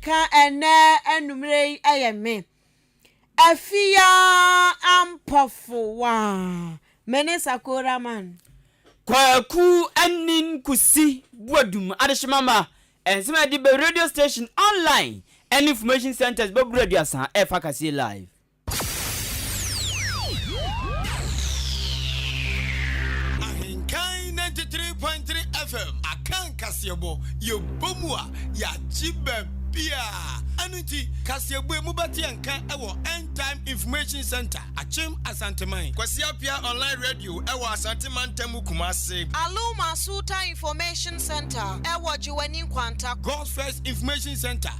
Ka ɛnnɛ anwummere yi yɛ me. Afia Ampɔfo wa. Me ne Sakora man. Kwaku Anin Kusi Boadum Adehyeman ma nsɛm a ɛde ba radio station, online, ne information centres bɛboro aduasa ɛrefa kaseɛ live. Ahenkan ninety three point three FM aka nkaseɛbɔ yɛbɔ mu a yɛagye baabiaa ɛno nti kaseɛbɔ mu bɛte yɛn nka ɛwɔ end time information center akyem asanteman Kwasi Apia online radio ɛwɔ Asante mantam Kumase Alum Asuta information center ɛwɔ Gyewani Nkwanta. God's first information center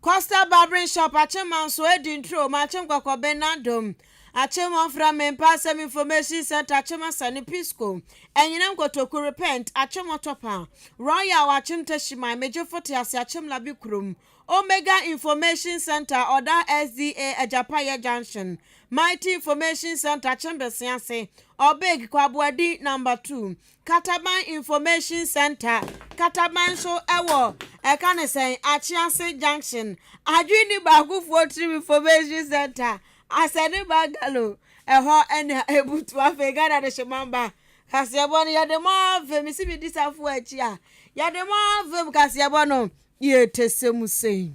Coastal Barbering Shop akyem manso adi nturo ma akyem kɔkɔ ben nadom akyem ɔfra me mpa asɛm information center akyem asane pisco ɛnyina nkotoku repent akyem ɔtɔpa royal akyem tashiman megye fote ase akyem labi kurom omega information center ɔda sda agyapayɛ junction mighty information center akyem besease ɔbeg kwaboadi number two Kataban Information Centre, Kataban nso wɔ ɛka ne sɛn, Akyease Junction. Adwinni Baakofoɔ Tirim Information Centre, Asɛne Bungalow, ɛhɔ na ɛbutu. Afei Ghana Adehyeman Ba kaseɛbɔ no, yɛde mo avem, mesi medi safoɔ akyi a, yɛde mo avem kaseɛbɔ no, yɛtɛsɛ mu sei.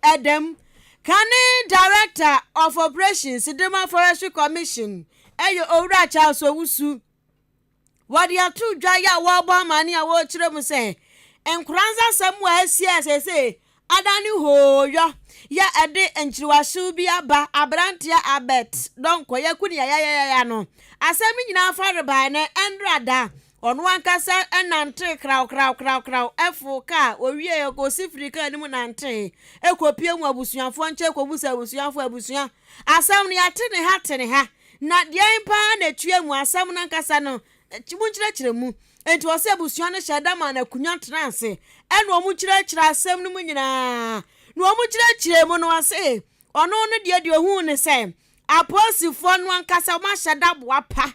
Ɛdam, Kane Director of Operations, Dema Forestry Commission, ɛyɛ Owura Charles Owusu. wɔde ato dwa yi a wɔrebɔ amane a wɔrekyerɛ mu sɛ nkora nsasɛm a asi a sese adane hooyɔ yɛ ɛde nkyerewaso bi aba aberanteɛ abɛt dɔnkɔ yɛ ko ne yayayaya no asɛm no nyinaa fa rebae no ɛndra da ɔno ankasa ɛnante krawkrawkrawkraw ɛfo kaa owie ɛkɔsi firi kaa no mu nante ɛkɔpie mu abusuafoɔ nkyɛ ɛkɔbu sɛ abusuafoɔ abusua asɛm no yɛate ne ha te ne ha Na deɛn paa na ɛtua mu asɛm no ankasa no? Monkyerɛkyerɛ mu. Enti ɔse abusua no hyɛɛ da maa no akunya tenaa ase ɛna wɔn kyerɛkyerɛ asɛm no mu nyinaa. Na wɔn kyerɛkyerɛ mu no ɔse ɔno no deɛ deɛ ɔhuu ne sɛ apolisifoɔ no ankasa wɔn ahyɛ da boa pa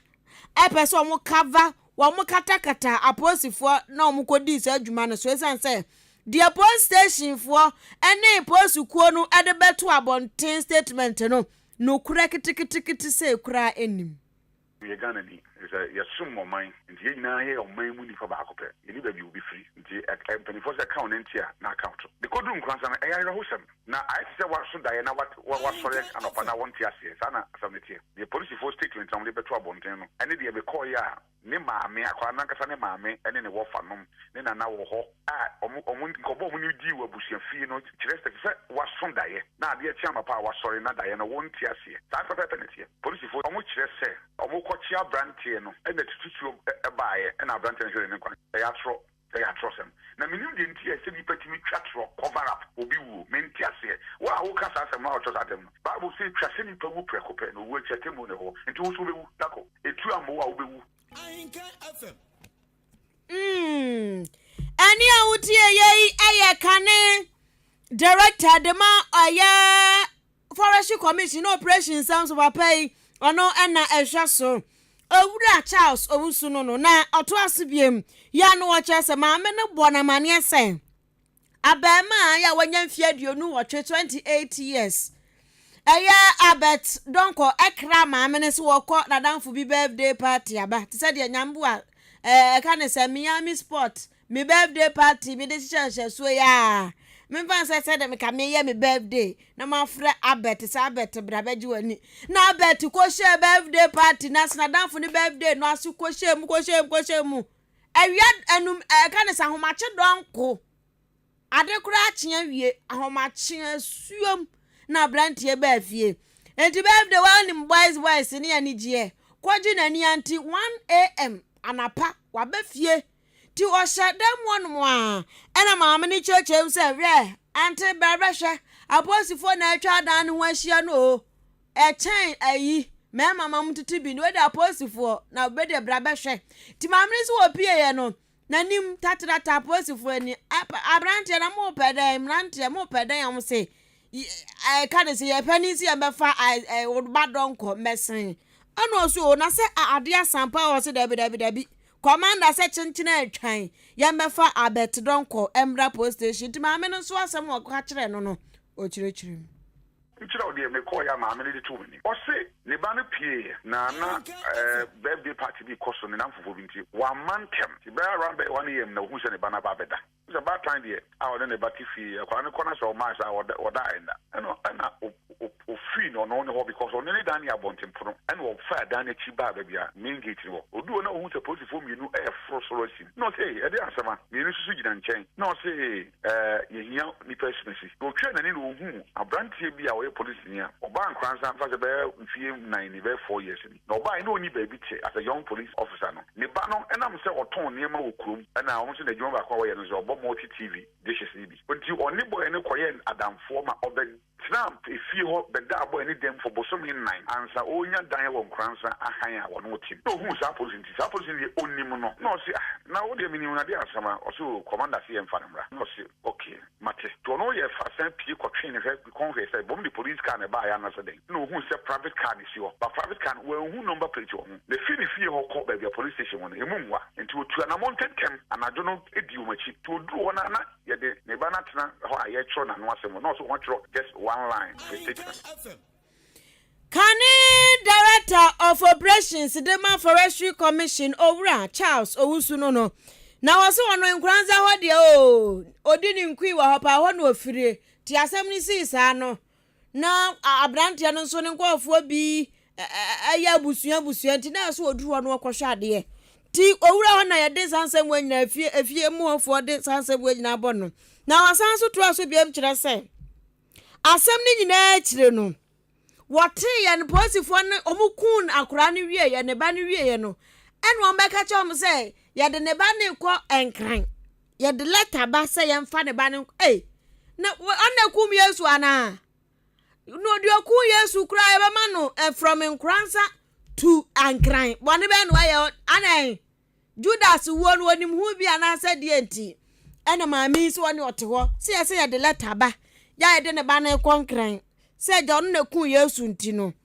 ɛpɛ sɛ wɔn cover wɔn katakata apolisifoɔ na wɔn kɔdii saa adwuma no so ɛsiane sɛ deɛ police stationfoɔ ɛne polisi kuo no ɛde bɛto abɔnten statement no Nokorɛ ketekete sei koraa nnim. Meyɛ Ghana ni efisɛ yɛsom ɔman nti yɛn nyinaa yɛ ɔman mu nipa baako pɛ yɛni baabi obi firi nti mpanyinfoɔ sɛ ɛka wo na nti a na aka wo to de kɔduru Nkoransa no ɛyɛ awerɛhosɛm na ayɛ te sɛ waso daeɛ na wasɔre anɔpa na wɔnte aseɛ saa na asɛm no teɛ deɛ polisifoɔ statement a wɔde bɛto abɔnten no ɛne deɛ mekɔɔeɛ a Ne maame, akwadaa no ankasa ne maame ne ne wɔfanom, ne nana wɔ hɔ a wɔn, wɔn nkɔmmɔ a wɔn ne dii wɔ abusua fie no kyerɛ sɛ ɛsɛ sɛ wɔaso daeɛ na adeɛ kye anɔpa a wɔasɔre na daeɛ no wɔnte aseɛ. Saa pɛpɛɛpɛ na ɛteɛ. Polisifoɔ, wɔkyerɛ sɛ wɔkɔkye aberanteɛ no na tututuo baeɛ na aberanteɛ no hweree ne nkwa no. Ɛyɛ atorɔ. Ɛyɛ atorɔsɛm. Na menim deɛ nti a ɛsɛ nipa tumi twa torɔ, cover up, obi wuo. Mente aseɛ. Wo a woka saa asɛm no a ɔtɔ saa dɛm no, Bible se twa sɛ nipa wu prɛko pɛ, na owuo akyi atemmuo ne hɔ. Nti wo nso wobɛwu. Dako, etu ammɔ wo a wobɛwu. Ahenka FM. Umm ɛne a wotieyɛ yi yɛ kane director de ma ɔyɛ Forestry Commission ne Operation Nsɛm So Papa yi ɔno na ɛhwɛ so. Owura Charles Owusu no no na ɔtoa so biom. Yɛ a no ɔkyerɛ sɛ maame no bɔ no amaneɛ sɛ abarimaa yɛ a wanya mfeɛ aduonu nwɔtwe, 28 years, ɛyɛ Albert Donkor ɛkra maame no sɛ wɔkɔ n'adamfo bi birthday party aba te sɛ deɛ Nyamboa ɛka ne sɛ Miami Sports Me birthday party me de hyehyɛ nhyɛsoɔ yi aa Me nfa nsɛ sɛ dɛ me ka me yɛ me birthday na ma frɛ Abɛt sɛ Abɛt bra bɛ gye w'ani na Abɛt kɔ hyɛɛ birthday party no ase na danfo ne birthday no ase kɔ hyɛɛ mu kɔ hyɛɛ mu kɔ hyɛɛ mu awia anum ɛka ne sɛ ahomakye dɔnko Ade koraa kye awie, ahomakye asuom na aberanteɛ baa fie. Enti birthday wa nim boys boys ne anigyeɛ, kɔgye n'ani ante 1am anapa waba fie. Nti ɔhyɛ dan mu ɔnom a, ɛna maame no kyeakyea mu sɛ, Hwɛ, ante brɛ bɛhwɛ, apolisifoɔ na atwa adan no ho ahyia no o. Ɛkyɛn ayi, mɛma ma mo tete bi no, wei deɛ apolisifoɔ, na wei deɛ bra bɛhwɛ. Nti maame no nso wɔpieeɛ no, N'anim tatrata apolisifo ani. Aberanteɛ na mo pɛ dɛn? Mmeranteɛ mo pɛ dɛn? Wɔn se, ɛka ne se, yɛpɛ ne nsi yɛn bɛfa wo ba dɔ nkɔ mmɛsen. Ɛna ɔse, o, na sɛ adeɛ asan pa ɔse, dabi, dabi, dabi. Kɔmanda sɛ kyenkyene atwan, yɛn bɛfa Abɛt dɔ nkɔ mmra polis station. Nti maame no nso asɛm a ɔka kyerɛɛ no no, ɔkyerɛkyerɛ mu. Nkyerɛ wo deɛ mekɔɔeɛ a maame no de too m'anim. Ɔse ne ba no pieeɛ na na eh, birthday party bi rekɔ so ne nnamfofoɔ bi nti wamma ntɛm. Nti bɛyɛ around bɛyɛ 1am na ɔhuu sɛ ne ba no aba abɛda. Wohu sɛ baatan deɛ a ɔne ne ba te fie yi, akwadaa no kɔ na sɛ ɔmae saa a ɔda ɔda ɛnna. Ɛna ɛna o o ofii no ɔno ne hɔ because ɔne ne dan yɛ abɔntenpono. Ɛna ɔfaa dan no akyi baa baabi a main gate no wɔ. Ɔduu hɔ na ɔhuu sɛ polisifoɔ mmienu reforo soro asim. Na ɔse ei, ɛdeɛn asɛm a? Mmienu nso so gyina nkyɛn. Na ɔse ee, Yehia nnipa asimasi. Otwaa n'ani na ohuu aberanteɛ bi a ɔyɛ polisini a ɔbaa Nkoranza mfa sɛ bɛyɛ mfeɛ nnan ni, bɛyɛ four years ni. Na ɔbaeɛ na ɔnni baabi te as a young police officer no. Ne ba no nam sɛ ɔtɔn nneɛma wɔ kurom na ɔno nso n'adwuma baako a ɔyɛ no sɛ ɔbɔ multi TV dishes no bi. Nti ɔne bɔɔyɛ no kɔyɛɛ adamfoɔ ma ɔbɛ. Trump fie hɔ bɛda abɔɛ ne dɛm for bosome nnan ansa ɔɔnya dan wɔ Nkoransa ahan a wɔnom te no. Nna ɔhuu saa polisi nti, saa polisi no deɛ ɔnnim no. Nna ɔse ah na wo deɛ menim no adeɛ asɛm a? Ɔse oo Commander se yɛmfa no mmra. Nna ɔse ok mate. Nti ɔne ɔyɛɛ fast san pie kɔtwee ne hwɛ kɔn hwɛɛ sɛ bɔm de police car na ɛbaeɛ anasɛ dɛn. Nna ɔhuu sɛ private car na ɛsi hɔ but private car no wanhu number plate wɔ ho. Na ɛfiri ne fie hɔ kɔ baabi a police station wɔ no ɛmu mmoa. Nti ɔtuu anamɔ ntɛntɛm anadwo no dii wɔn akyi. Nti ɔduruu hɔ no a na. Yɛde ne ba no atena hɔ a yɛrekyerɛw n'ano asɛm no, na ɔso ho twerɛ just one line of a statement. Kane Director of Operations de ma Forestry Commission, Owura Charles Owusu no no, na wɔse ɔno Nkoranza hɔ deɛ oo, ɔdi ne nkui wɔ hɔ paa, hɔ na ɔfirie, nti asɛm no sii saa no. na aberanteɛ no nso ne nkurɔfoɔ bi ɛyɛ abusua abusua nti na ɛsɛ ɔduru hɔ na ɔkɔhwɛ adeɛ nti owura hɔ na yɛde saa nsɛm wɔ nyinaa fie efie mu hɔfoɔ de saa nsɛm wɔ nyinaa bɔ no na wɔsan so toa so biam kyerɛ sɛ asɛm no nyinaa akyire no wɔtee yɛn polisifoɔ no wɔn kun akora no wie yɛ ne ba no wie yɛ no ɛna wɔn bɛka kyɛ wɔn sɛ yɛde ne ba no kɔ nkran. Yɛde lɛta ba sɛ yɛmfa ne ba no nkɔ. Ei, na ɔna kum Yesu anaa? Na ɔde ɔku Yesu koraa yɛbɛma no ɛfrɔm nkoransa tu ankran. Bɔne bɛn na wayɛ anɛn? Judas wuo no onim ho bi anaasɛ deɛ nti? Ɛna maame yi sɛ ɔne ɔte hɔ sɛ yɛ sɛ yɛde lɛta ba yɛ a yɛde ne ba no kɔ nkran sɛ agya ɔno na kum Yesu nti no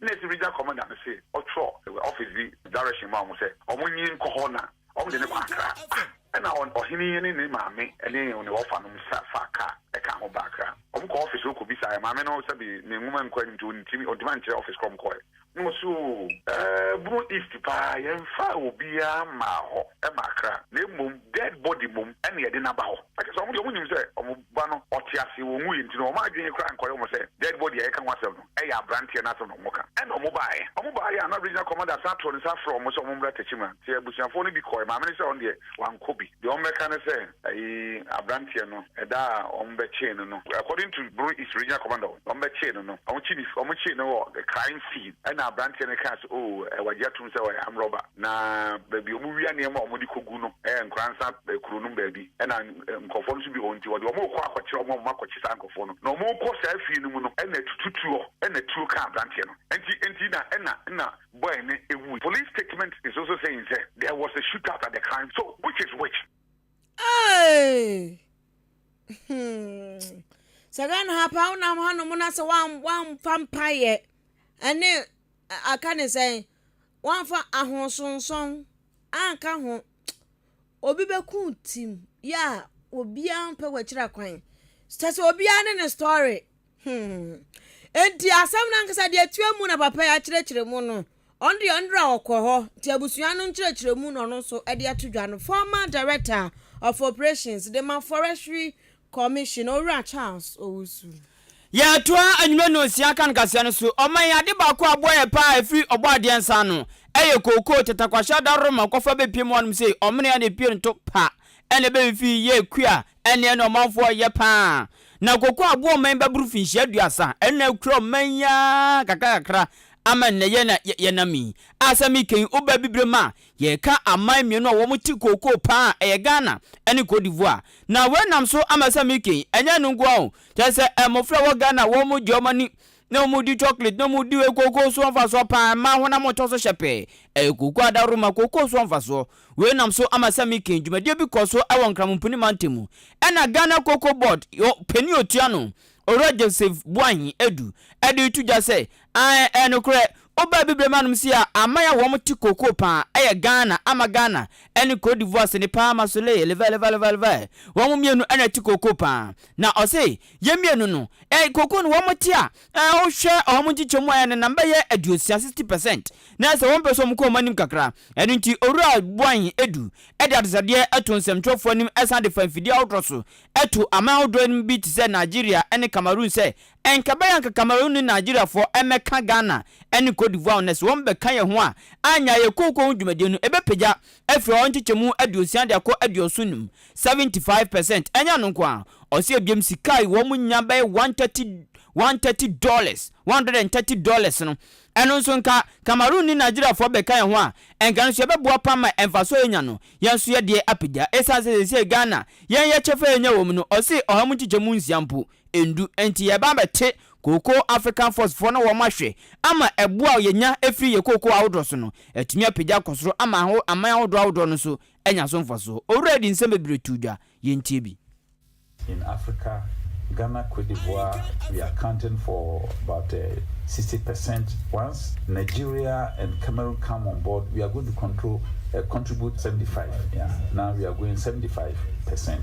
Nna esi Regional Commander no se ɔtwerɛ office bi direction ma wɔn sɛ wɔn nyi nkɔ hɔ na wɔn de no kɔ Accra. Ah! Nna ɔhene yi ne ne maame ne ne wɔfa nom nsa faa car ɛkaa ho baa Accra. Wɔn kɔɔ office hɔ kɔ bisaeɛ. Maame no sɛbi ne nwoma nkɔ anim nti ɔntumi ɔntumi ankyerɛ office korɔ wɔn kɔɔɛ. Nna ɔse oo. Ɛɛ Bono East paa yɛnfaa obiara mmaa hɔ ɛma Accra na mmom dead body mmom ɛna yɛde no aba hɔ. Ɛkyerɛ sɛ wɔn deɛ wɔn nyim sɛ wɔn Ba no, ɔte ase, ɔnwuiɛ nti no, wɔn adwene koraa nkɔyɛ wɔn sɛ dead body a yɛka ho asɛm no yɛ aberanteɛ no asɛm na wɔka. Ɛnna wɔbaeɛ. Wɔbaeɛ a na Regional Commander san too ne nsa frɛɛ wɔn sɛ wɔmmra Techiman nti abusuafoɔ no bi kɔeɛ. Maame no sɛ ɔno deɛ wankɔ bi. Deɛ wɔbɛka ne sɛ ayi aberanteɛ no ɛda a wɔbɛkyee no no, according to Boro East Regional Commander wɔn, wɔbɛkyee no no, wɔkye ne, wɔkyee no wɔ crime scene. Ɛnna aberanteɛ no kaa sɛ oh, wɔagye atom sɛ ɔyɛ armed robber na baabi a wɔwia nneɛma a wɔde kɔgu no yɛ Nkoransa kuro no mu baabi. Ɛnna. nkurɔfoɔ no so bi hɔ nti, ɔde wɔn rekɔ akɔkyerɛ wɔn a wɔakɔkye saa nkurɔfoɔ no. Na wɔrekɔ saa fie no mu no, ɛna atutu tuo, ɛna tuo kaa aberanteɛ no. Ɛnti ɛnti na ɛna ɛna boy no ɛwui. Police statement is also saying sɛ there was a shootout at the crime so which is which? Hey! Hmm. sɛ ghana ha paa wonam hanom na sɛ woamfa mpaeɛ ɛne aka ne sɛn woamfa ahosonsɔn anka ho obi bɛku team yi a obiara mpɛ wɔakyiri akwan kyerɛ sɛ obiara ne ne story hmm eti asɛm no ankasa deɛ etua mu na papa yi akyerɛkyerɛ mu no ɔno deɛ ɔno deɛ ɔkɔ hɔ nti abusua no nkyerɛkyerɛ mu na ɔno nso ɛde ato dwa no former director of operations de ma forestry Commission, Owura Charles Owusu. Yɛtoa anwummerɛ nnɔnsia kan kaseɛ no so. Ɔman yi, ade baako a aboa yɛ paa a ɛfiri Ɔbɔadeɛ nsa ano yɛ kookoo, tɛtakwahyɛ adaworoma, kɔfa bɛpiem hɔ nom sei, ɔmene ne pirinto pa na ɛbɛfifi yɛ kua ne ɛna ɔmanfoɔ yɛ paa. Na kookoo aboa ɔman yi bɛboro finhyia aduasa, ɛno na akura ɔman yi ara kakra kakra ama nnɛyɛ na yɛnam yi. A sɛ mekɛyi wo ba abibire mu a, Yɛreka aman mmienu a wɔte kookoo pa ara a, ɛyɛ Ghana ne Cote d'Ivoire. Na wei nam so ama sɛ Mickey yi, ɛnyɛ ɛno nko ara o, kyerɛ sɛ mmɔfra a ɛwɔ Ghana a wɔgye wɔn ani na wɔdi chocolate na wɔdi wei kookoo so wɔ mfasoɔ pa ara, mmaa honam ɔtɔ so hyɛ pɛɛ, ɛyɛ kookoo adaworoma, kookoo so wɔ mfasoɔ. Wei nam so ama sɛ Mickey yi, dwumadie bi kɔ so wɔ Nkramompuni mantam mu. Ɛna Ghana Cocoa Board panin a ɔtua no, Owura Joseph Boahen Adu de reto dwa sɛ, Ae ɛyɛ nokorɛ woba abibirem anom si a aman a wɔn te kookoo paa ɛyɛ Ghana ama Ghana ɛne Cote d'Ivoire sene paa ma Soleil levalevalevalevale wɔn mmienu ɛna ɛte kookoo paa na ɔse yɛn mmienu no ɛɛ kookoo no wɔn te a ɛɛ wohwɛ wɔn nkyekyɛmu a ɛnenam bɛyɛ aduosia 60 percent na ɛsɛ wɔn pɛ sɛ wɔn kɔ wɔn anim kakra ɛno nti Owura Boahen Adu ɛde atosadeɛ ɛto nsɛmtwerɛfoɔ anim ɛsan de fa mfidie ahodoɔ so ɛto aman ahodoɔ anim bi te sɛ Nigeria ɛne Cameroon sɛ Ɛnkɛbɛyɛ anka Cameroon ne Nigeria foɔ ɛmɛka Ghana ɛne Cote d'Ivoire ho nɛ sɛ wɔn bɛka yɛ ho a annya yɛ kooko ho dwumadie no ɛbɛpagya afiri hɔ nkyekyɛmu aduosia de akɔ aduoson num, 75 percent, ɛnyɛ ɛno nko ara ɔse ɛbiom sika a wɔn nya bɛyɛ one thirty one thirty dollars, one hundred and thirty dollars, no ɛno nso nka Cameroon ne Nigeria foɔ bɛka yɛ ho a ɛnka ɛno nso ɛbɛboa paa ma mfasoɔ a yɛnya no yɛn nso yɛdeɛ apagya ɛsiane sɛ seisei Ghana yɛn yɛkyɛfa a yɛnya wɔ mu no ɔse ɔha mu nkyekyɛmu nsia mpo ndu nti yɛba abɛte kooko African Fox foɔ no wɔn ahwɛ ama ɛboɔ a yɛnya firi yɛ kooko ahodoɔ so no atumi apagya akɔ soro ama aho aman ahodoɔ ahodoɔ no nso anya so mfasoɔ. Owura yi de nsɛm bebree too dwa, yɛntie bi. In Africa, Ghana, Cote d'Ivoire, we are accounting for about uh, 60 percent. Once Nigeria and Cameroon come on board, we are going to control, uh, contribute 75. Yeah, now we are going 75 percent.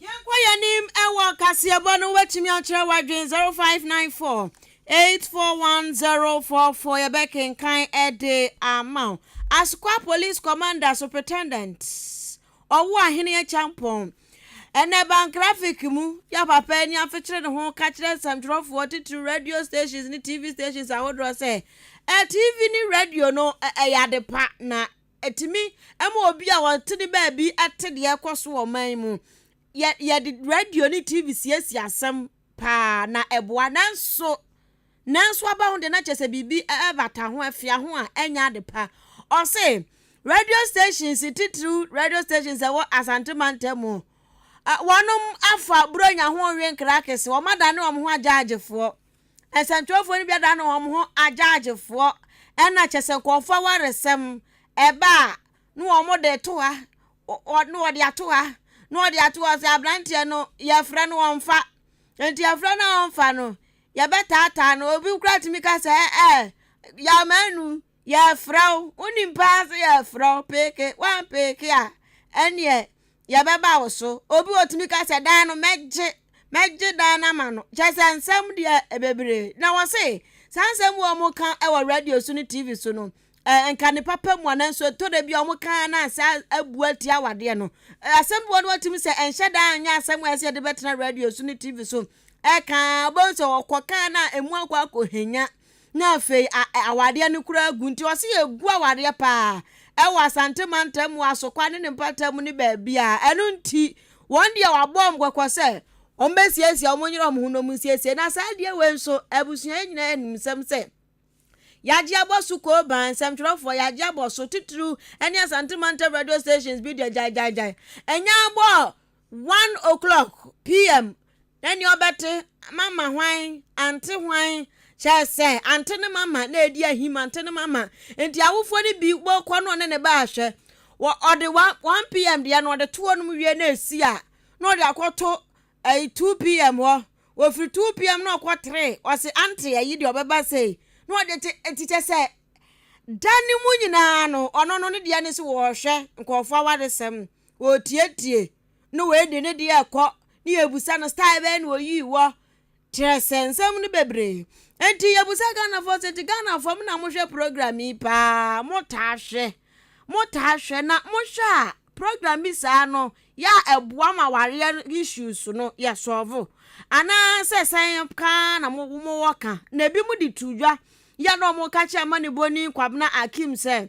Yɛnkɔ yɛn anim wɔ kaseɛbɔ no ho, wobɛtumi akyerɛ w'adwene 0594 841044 yɛbɛkenkan de ama wo. Asukwa Police Commander Superintendent Ɔwoahene Acheampong ɛnɛ ban graphic mu yɛ papa ani afekyere ne ho ka kyerɛ nsɛmtwerɛfoɔ titiriw radio stations ne TV stations ahodoɔ sɛ TV ne radio no ɛyɛ ade pa na Ɛtumi ma obi a ɔte ne baabi te deɛ ɛrekɔ so wɔ ɔman mu. Yɛ yɛde radio ne TV siesie asɛm paa na ɛboa nanso nanso aba ho deɛ na kyerɛ sɛ biribi ɛbata ho afia ho a ɛnyɛ ade pa. Ɔse radio stations titiriw radio stations ɛwɔ Asante mantam mu wɔnom afa Buronya ho nwe nkrakese wɔn adane wɔn ho agyaagyefoɔ. nsɛmtwerɛfoɔ no bi adane wɔn ho agyaagyefoɔ ɛna kyɛ sɛ nkurɔfoɔ awaresɛm ɛba a na wɔn de to ha na wɔde ato ha na wɔde ato hɔ sɛ aberanteɛ no yɛfrɛ no wɔn fa nti yɛfrɛ no wɔn fa no yɛbɛtaataa no obi kura tumi ka sɛ ɛɛ yamanu Yɛrefrɛ wo, wonim paa sɛ yɛrefrɛ wo, peeke, woampeeke a, ɛnneɛ yɛbɛba wo so. Obi wɔ tumi ka sɛ, dan no, mɛgye, mɛgye dan no ama no. Kyerɛ sɛ nsɛm deɛ ɛbebree. Na wɔse, saa nsɛm wɔ wɔn ka wɔ radio so ne TV so no, eh, nka ne papa mu a, nanso ɛtɔ da bi a wɔn ka na asɛ abu atia awadeɛ no. Eh, asɛm bi wɔ no wɔtumi sɛ, ɛnhyɛ da anyɛ asɛm a ɛsɛ yɛde bɛtena radio so ne TV so. Ɛka, wɔbɛhu sɛ wɔkɔ ka na emu akɔ akɔhenya. na afei a ɛ awadeɛ no koraa agu nti ɔse yɛgu awadeɛ paa ɛwɔ Asante mantam mu Asokwa ne ne mpata mu ne baabiaa ɛno nti wɔn deɛ wabɔ wɔn kɔkɔ sɛ wɔn bɛsiesie wɔn nyere wɔn ho na wɔn nsiesie na saa adeɛ wei nso abusua yi nyinaa nim nsɛm sɛ yɛagye abɔ so kooban nsɛmtwerɛfoɔ yɛagye abɔ so titiriw ɛne Asante mantam radio stations bi deɛ gyaegyaegyae ɛnyɛ abɔ One o'clock PM na nea ɔbɛte mama hwan ante hwan kyerɛ sɛ ante ne mama na edi ahim ante ne mama nti awofoɔ no bi bɔkɔ no ɔne ne ba ahwɛ wɔ ɔde one one PM deɛ no ɔde to hɔ nom wie na esi a na ɔde akɔto ɛyi two PM hɔ wɔfiri two PM na ɔkɔ three ɔsi ante ɛyi deɛ ɔbɛba sei na ɔde te eti kyɛ sɛ da ne mu nyinaa no ɔno no ne deɛ ne so wɔhwɛ nkurɔfoɔ awaresɛm Wɔretietie no wei de ne deɛ ɛkɔ ne yɛbusa no style bɛyɛ na ɔyii wɔ kyerɛ sɛ nsɛm no bebree nti yɛbusa Ghanafoɔ sɛ nti Ghanafoɔ mo na mohwɛ program yi paa motaa hwɛ motaa hwɛ na mohwɛ a program bi saa no yɛ a ɛboa ma wareɛ issues no yɛ sɔɔvo anaa sɛ sɛn kaa na mo mowɔ ka na ebi mo de tu dwa yɛ na ɔmo ka kyerɛ ma ne boni Kwabena Akim sɛ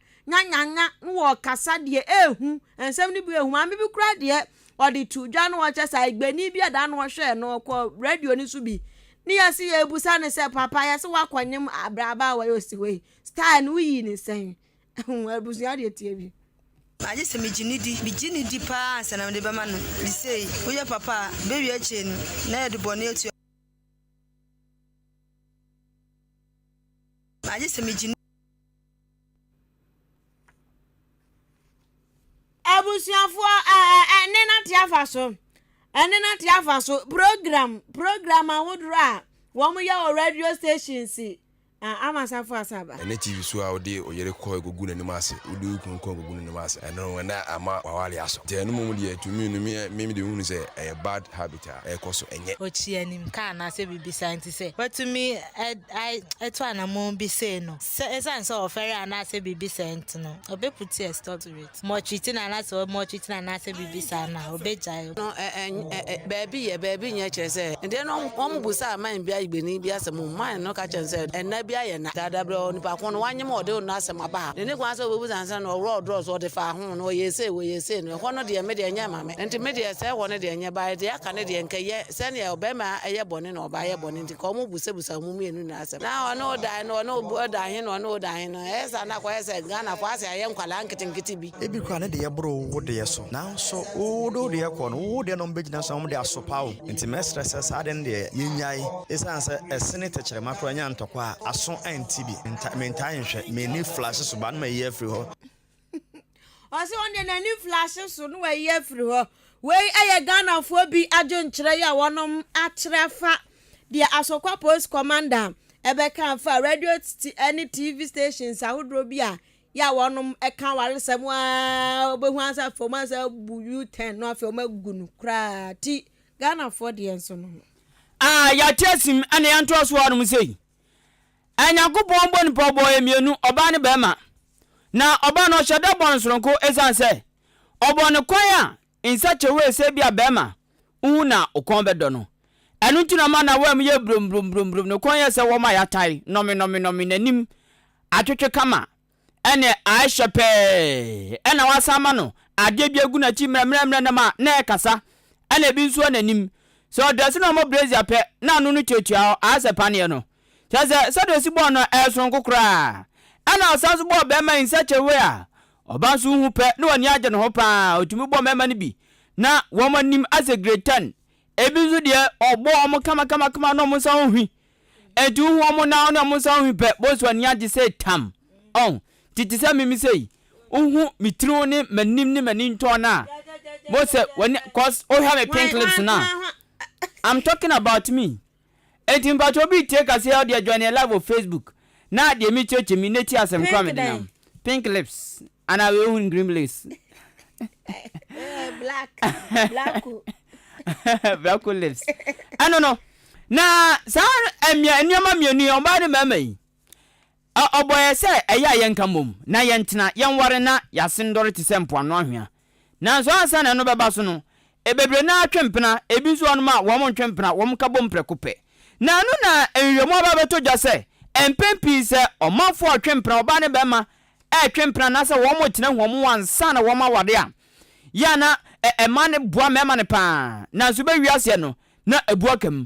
Nyanyanya no wɔ ɔkasa deɛ ehu, nsɛm no bi ehu. Maame bi koraa deɛ ɔde to dwa no ɔkyɛ sɛ Igbeni bi ɛda no ɔhwɛɛ no ɔkɔ radio no so bi ne yɛsi yɛ ebusa no sɛ papa yɛsi wakɔ nyem abraba a wɔyɛ osi hɔ yi style no woyii ne sɛn ɛho abusua deɛ tie bi. Agye sɛ megye no di, megye no di paa ansa na mede bɛma no. De sei, woyɛ papa a, bɛwie akyire no, na yɛde bɔne atua. Agye sɛ megye no. abusuafoɔ ɛne nate afa so ɛne nate afa so program program ahodoɔ a wɔn yɛ wɔ radio station si ama asafo asaba. ɛne tv so a wode oyere kɔ egugu n'anim ase wode okunu kɔ egugu n'anim ase ɛno ɛna ama wawale asɔ nti ɛno mom deɛ to me no me me de hunu sɛ ɛyɛ bad habit a ɛkɔ so ɛnyɛ. okyi anim ka anaasɛ biribi saa nti sɛ watumi ɛto anamɔn bi sei no. Sɛ esiane sɛ ɔfɛre anaasɛ biribi sɛɛ nti no, obepu ti a stopped with mɔkyiti no anaasɛ ɔmɔkyiti no anaasɛ biribi saa no a, obegyae. No, ɛ, ɛ, ɛ, ɛ, baabi yɛ, baabi nyɛ kyerɛ sɛ, ɛdeɛ no wɔn busaa man bi ayigbeni bi asɛm mu, man no ka kyerɛ no sɛ, ɛnna bi ayɛ nna, dada berɛ, onipa ko no, wanyem a ɔde ɔno asɛm aba ha, n'ani kwan sɛ ɔbɛbusa no sɛ, na ɔworɔ ɔdorɔ so, ɔde faa ho, na ɔyɛɛ sei, ɔyɛɛ sei no, ɛhɔ no deɛ, me deɛ, ɛnyɛ mma me, enti me deɛ, sɛ ɛhɔ no deɛ, nyɛ baeɛ, deɛ aka no deɛ, nka yɛ sɛdeɛ ɔbarima yɛ bɔne na ɔbaa yɛ bɔne nti. Ka ɔmo busabisa ɔmo mmienu nyinaa asɛm. Na ɔne wo dan no, ɔne wo dan he no, ɔne wo dan he no. Ɛyɛ saa na akɔyɛ sɛ Ghanafo ase ayɛ nkwadaa nketenkete bi. Ebi koraa ne deɛ boro wo deɛ so. Nanso wode wo deɛ kɔ no, wo deɛ na ɔmo bɛgyina so na ɔmo de asopa wo. Nti mɛsrɛ sɛ saa adeɛ no deɛ yɛnnyae. Esiane sɛ ɛse ne tɛkyerɛma koraa nya ntɔkwa a, aso nte bi. Mentaa nhwɛ. M'ani flash so ba no m'ayi afiri hɔ. Ɔse wɔn deɛ n'ani flash so na wayi afiri hɔ. Wei yɛ Ghanafoɔ bi adwenkyerɛ yi a wɔnom akyerɛ afa deɛ Asokwa Police Commander ɛbɛka afa radio titi ɛne TV stations ahodoɔ bi a yɛ a wɔnom ɛka awaresɛm a wɔbɛhu ansa afei wɔn ansa abu U-turn no afei wɔn agu no koraa ti Ghanafoɔ deɛ nso no ho. Ah, yɛate asim ɛna yɛntoa so anom sei. Anyankopɔn bɔ nipa ɔbɔɔ yɛ mmienu, ɔbaa ne bɛrima. Na ɔbaa no ɔhyɛ da bɔɔ no soronko esiane sɛ ɔbɔɔ no kwan a nsakyewee sɛ ebia barima hu na okɔn bɛdɔ no. Ɛno nti na ɔma n'awam yɛ brombrombrombrombromb, ne kɔn yɛ sɛ wɔn a yɛatae, nɔmenɔmenɔme, n'anim atwetwe kama ɛnne ayɛ hyɛ pɛɛ, ɛnna wɔasan ama no adeɛ bi agu n'akyi mmerɛmmerɛmmerɛ nam a na ɛkasa, ɛnna ebi nso wɔ n'anim. Sɛ ɔdrɛse na ɔmmɔ brazier pɛ na ano no tuatua hɔ ara sɛ paneɛ no. Kyerɛ sɛ, sɛdeɛ ɔsi bɔɔ no no soronko koraa. Ɛna ɔsan nso bɔɔ bɛɛma in such a way a ɔba nso wohu pɛ na w'ani agye ne ho paa. Ɔtumi bɔɔ mɛɛma no bi na wɔn anim asɛ grade ten. Ebi nso deɛ ɔbɔ wɔn kamakamakama na wɔn nsa ɔnhwi. Enti wohu wɔn nan ne wɔn nsa ɔnhwi pɛ, bɔɔ so ani agye sɛ tam. Ɔho, nti te sɛ me me sei, wohu me tiriw ne m'anim ne m'ani ntɔɔ no a, bɔɔ sɛ w'ani, cause wohwɛ me pink lips no a, I'm talking about me. Enti mpatsɔ obi tsie kaseɛ a ɔde adwane live wɔ Facebook na deɛ me kyerɛkyerɛ mi na tie asɛm koro a mede nam Pink lips anaa wei ohun green bliss Blacko lips ɛno no Na saa mmea nneɛma mmienu yi ɔbaa ne mmarima yi Ɛ ɔbɔ yɛ sɛ ɛyɛ a yɛnka mmom, na yɛntena, yɛnware na yɛasen dɔre te sɛ mpoano anhwea. Nanso ansa na ɛno bɛba so no, ɛ bebree no ara twe mpena, ebi nso wɔ hɔnom a wɔntwe mpena, wɔka bom prɛko pɛ. Na ɛno na nhwehwɛmu aba abɛtɔ dwa sɛ, mpɛn pii sɛ ɔmanfo a ɔtwe mpena, ɔbaa ne barima retwe mpena anaasɛ wɔtena hu wɔn ho ansa na wɔaware a, yɛ a na ɛ ɛma no boa mmarima no paa, nanso bɛwie aseɛ no, na ɛbu aka mu.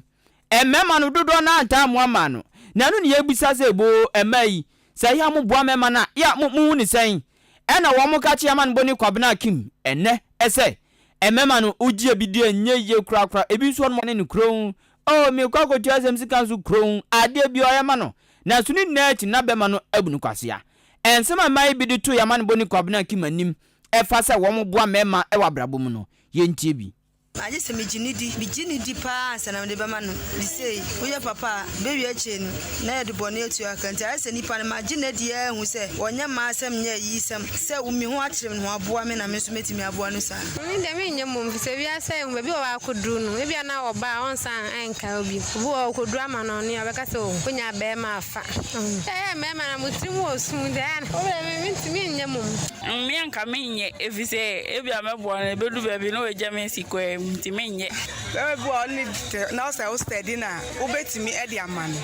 Mmarima no dodoɔ no ara ntaa mmoa mmaa no. Na ɛno na yɛbisa sɛ, Boo, mmaa yi, sɛ yɛ a moboa mmarima no a, yɛ a mohu no sɛn? Ɛnna wɔka kyerɛɛ Amanbɔni Kwabena Akim, ɛnnɛ, sɛ, Mmarima no, wogyee bi deɛ ɛnyɛ yie korakora, ebi nso wɔnom ne no kronn. Oo, merekɔ akɔtua asɛm sika nso kronn, adeɛ biara yɛma no, nanso ne nyinaa akyi no na bɛrima no abu no kwasea. Nsɛm a mmaa yi bi de too yɛn Amanbɔni Kwabena Akim anim fa sɛ wɔboa mmarima wɔ abrabɔ mu no, yɛntie bi. Agye sɛ megye no di. Migye no di paa ansa na mede bɛma no. Enti sei, woyɛ papa a, bɛwie akyire no, na yɛde bɔne atua ka. Enti ayɛ sɛ nnipa no, magye no adi ara ahu sɛ ɔnyɛ m'asɛm nyɛ ayiyisɛm, sɛ wumi ho akyere me na waboa me na me nso mɛtumi aboa no saa. Me deɛ menyɛ mmom, firi sɛ wiase a yɛwɔ mu, baabi wɔ hɔ a akɔduru no, ebia na ɔba a ɔnsan nka wo bio. Obi wɔ hɔ a, ɔkɔduru amanɔne a, ɔbɛka sɛ oh, wonya barima afa. Ɛyɛ a mmarima no, mo tirim wɔ sum deɛ, ɛyɛ a na. Wo deɛ, mentumi nyɛ mmom. Mmea nka menyɛ efisɛ ebia mɛboa no ebedu baabi na wagya me asi kwae mu nti menyɛ. Bɛrima bi wɔ hɔ ɔne tete na ɔsɛ wo steady na wobetumi ɛde ama no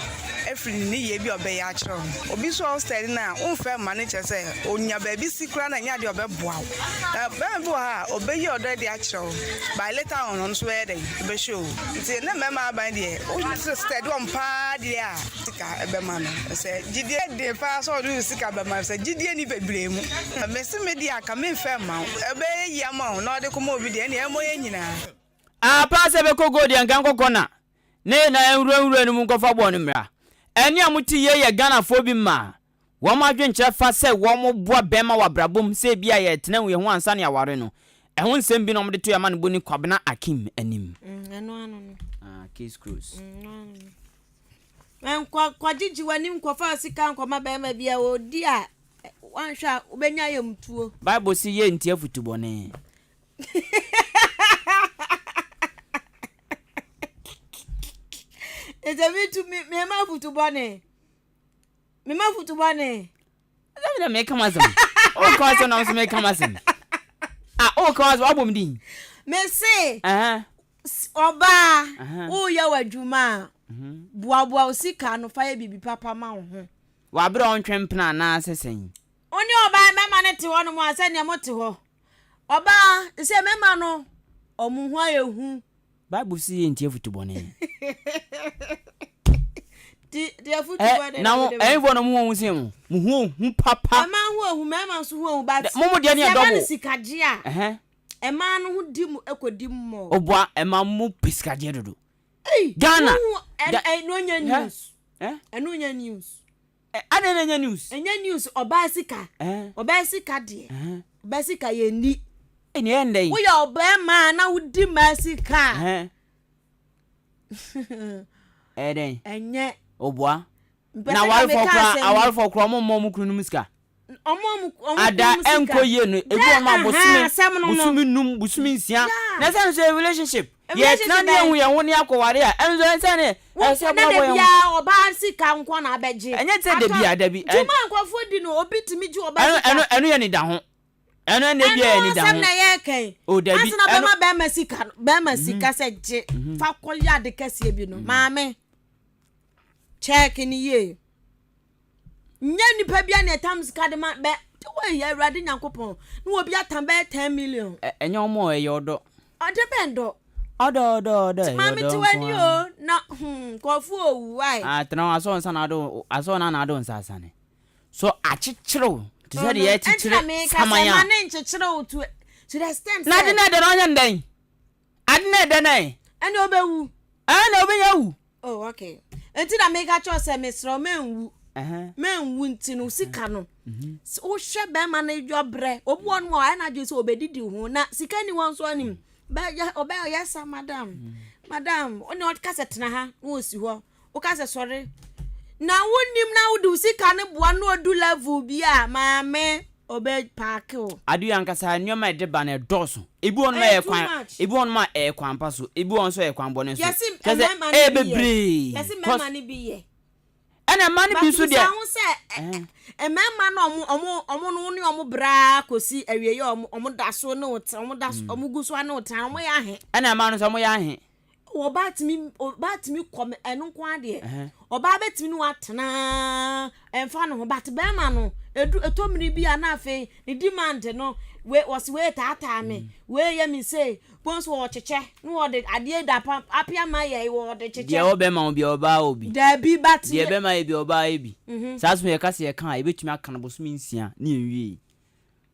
efiri ne ne yie bi a ɔbɛyɛ akyerɛ wo no obi so a wo steady na wonfɛ mma no kyerɛ sɛ onya baabi si koraa na nya deɛ ɔbɛboa wo na bɛrima bi wɔ hɔ a obeyi ɔdɔ ɛde akyerɛ wo by later on ɔno so bɛyɛ dɛn obehyɛ o nti ne mmarima aban deɛ wo steady wɔn paa deɛ a. sika ɛbɛma no sɛ gyidie deɛ paa sɛ ɔde sika bɛma no sɛ gyidie ni bebree mu mese me deɛ aka memfɛ mma wo ɛbɛyɛ yi ama wo na ɔde kɔma obi deɛ ɛne ɛmmɔ yɛ nyinaa apa sɛ bɛkɔ gold yɛ nka nkɔkɔ na ne na ɛnwuranwura no mu nkɔfa bɔɔ no mmra ɛne a mote yei yɛ ghanafoɔ bi mmaa Wɔn adwenkyerɛ fa sɛ wɔboa bɛmma wɔ abrabɔ mu sɛ ebia yɛretena awia ho ansa ne aware no, ɛho nsɛm bi na wɔde to Yɛamanebɔni Kwabena Akim anim. Mm, ɛno ano no. Ah, case close. Mm, ɛno ano no. Ɛnkɔ kɔgyegye w'anim nkɔfa sika nkɔma bɛrima bi a ɔdi a wanhwɛ a wobɛnya ayamtuo. Bible se yɛ nti afutu bɔne. Ɛsɛ me tu me mema afutu bɔne. mema futu bɔne ɛsɛ mena meka masɛm woka wasɛm na wo so meka masɛm a woka wasɛm wabom din mese ɔbaa woyɛ w'adwuma a mhm. boaboa wo sika no fa yɛ biribi papa ma wo ho waberɛ ɔntwe mpena anaasɛ sɛn wo ne ɔbaa mɛma no te hɔ nom a sɛdeɛ mote hɔ ɔbaa sɛ mɛma no ɔmo ho ayɛ hu Bible se yɛntie afutu bɔne. Ti ti afutu eh, bɔne na wode ma. Eh, ɛnfoɔ no mo wɔn se mo, mo ho ohu papa. Ɛma ho ohu, mɛma nso ho ohu, but. Mo mo deɛ ne yɛ dɔbo. Sɛ ɛma no sikagye a. Ɛhɛn. Ɛma no ho di mo, ɛkɔ di mo. Oboa, ɛma mo pe sikagye dodo. Ei, Ghana. Mo ho, ɛn, ɛn, no nya news. Eh? Ɛno nya news. Eh adɛn na ɛnyɛ news. Ɛnyɛ news ɔbaa sika. Eh. Ɔbaa sika deɛ. Eh. Ɔbaa sika yɛ nni. Eh ni ɛyɛ ndɛn. Woyɛ ɔbɛɛma na wodi maa sika. Eh. Ɛyɛ dɛn. Ɛnyɛ. Obua. Na awarefɔ kura awarefɔ kura ɔmo mma ɔmo kunu nom sika. ada ɛnkɔ yie no ebi wɔn a bosome bosome num bosome nsia na ɛsɛ no sɛ relationship yɛ tena ne ehu yɛn ho ne akɔware a ɛnso ɛsɛ ne ɛsɛ bɔ abɔ yɛn ho ɔbaa sika nkɔ na abɛgye ɛnyɛ sɛ dabi a dabi ɛn juma nkɔfoɔ di no obi tumi gye ɔbaa sika ɛno ɛno yɛ ne da ho ɛno ɛna ebi yɛ ne da ho ɛno asɛm na yɛ kɛn o dabi asena bɛma bɛma sika bɛma sika sɛ gye fa kɔ yɛ ade kɛseɛ bi no maame kyɛɛke ne yie. Nyɛ nipa bia na ɛtam sika de ma bɛ. Wei yɛ Awurade Nyankopɔn. Na obi atam bɛyɛ 10 million. Ɛ ɛnyɛ wɔn o, ɛyɛ ɔdɔ. Ɔdɔ bɛn dɔ? Ɔdɔ ɔdɔ ɔdɔ ɛyɛ ɔdɔ nko ara. Maame te w'ani o, na hmm nkurɔfo o wu wai. Ah tena hɔ, asɔɔ nsa na ado o, asɔɔ na na ado nsa asane. So akyekyere wo te sɛ deɛ yɛkyekyere saman a. Ɛnti na meeka sɛ ma ne nkyekyere wo to to the extent sɛ. N'ade no ɛdɛ na ɔnyɛ no dɛn? Ade na ɛda no ɛ? Ɛnna ɔbɛwu. Ɛnna ɔbɛnya wu. Oh, okay. Nti na meka kyerɛ sɛ mesrɛ wo menwu. Menwu nti no sika no. Mm-hmm. Wohwɛ bɛrima no yɔbrɛ. Obi wɔ no a ɔyɛ n'adwene sɛ ɔbɛdidi ho na sika ni hɔ nso anim. Ɔbɛyɛ ɔyɛ sa madam. Mm-hmm. Madam, ɔne ɔka sɛ tena ha na ɔsi hɔ. Woka sɛ sɔre na wonnim na wode wo sika no boa no na odu level bi a maame ɔbɛ park wo. Adeɛ ankasa nneɛma a ɛde ba no ɛdɔɔso. Ebi wɔ hɔ nom a ɛyɛ kwan, ebi wɔ hɔ nom a ɛyɛ kwan pa so, ebi wɔ hɔ nso a ɛyɛ kwan bɔne so. Kyerɛ sɛ ɛyɛ bebree. Yɛse mmarima no bi yɛ. Ɛna mmaa no bi nso deɛ. But bisa ho sɛ mmarima no ɔmo ɔmo ɔmo no wo ne ɔmo bra kɔsi awieɛ ɔmo ɔmo da so ne wo tena ɔmo da so ɔmo gu so ne wo tena ɔmo yɛ ahe. Ɛna mmaa no nso ɔmo yɛ ahe. ɔbaa tumi ɔbaa tumi kɔ ɛno nko adeɛ ɔbaa bɛtumi ne watena ɛnfa ne ho but bɛrima no edu eto mmiri bi a na afei ne demand no wei wɔsi wei taataa me mm. wei yɛ mi se bɔn so ɔkyekyɛ ne wɔde adeɛ da pa apia ma yɛ wɔde kyekyɛ. deɛ ɔbɛma wo bi ɔbaa wo bi. daabi but deɛ bɛma yɛ bi ɔbaa yɛ bi mhm. saa so yɛ kasa yɛ kan a yɛbɛtumi aka no bosomi nsia ne yɛn wie.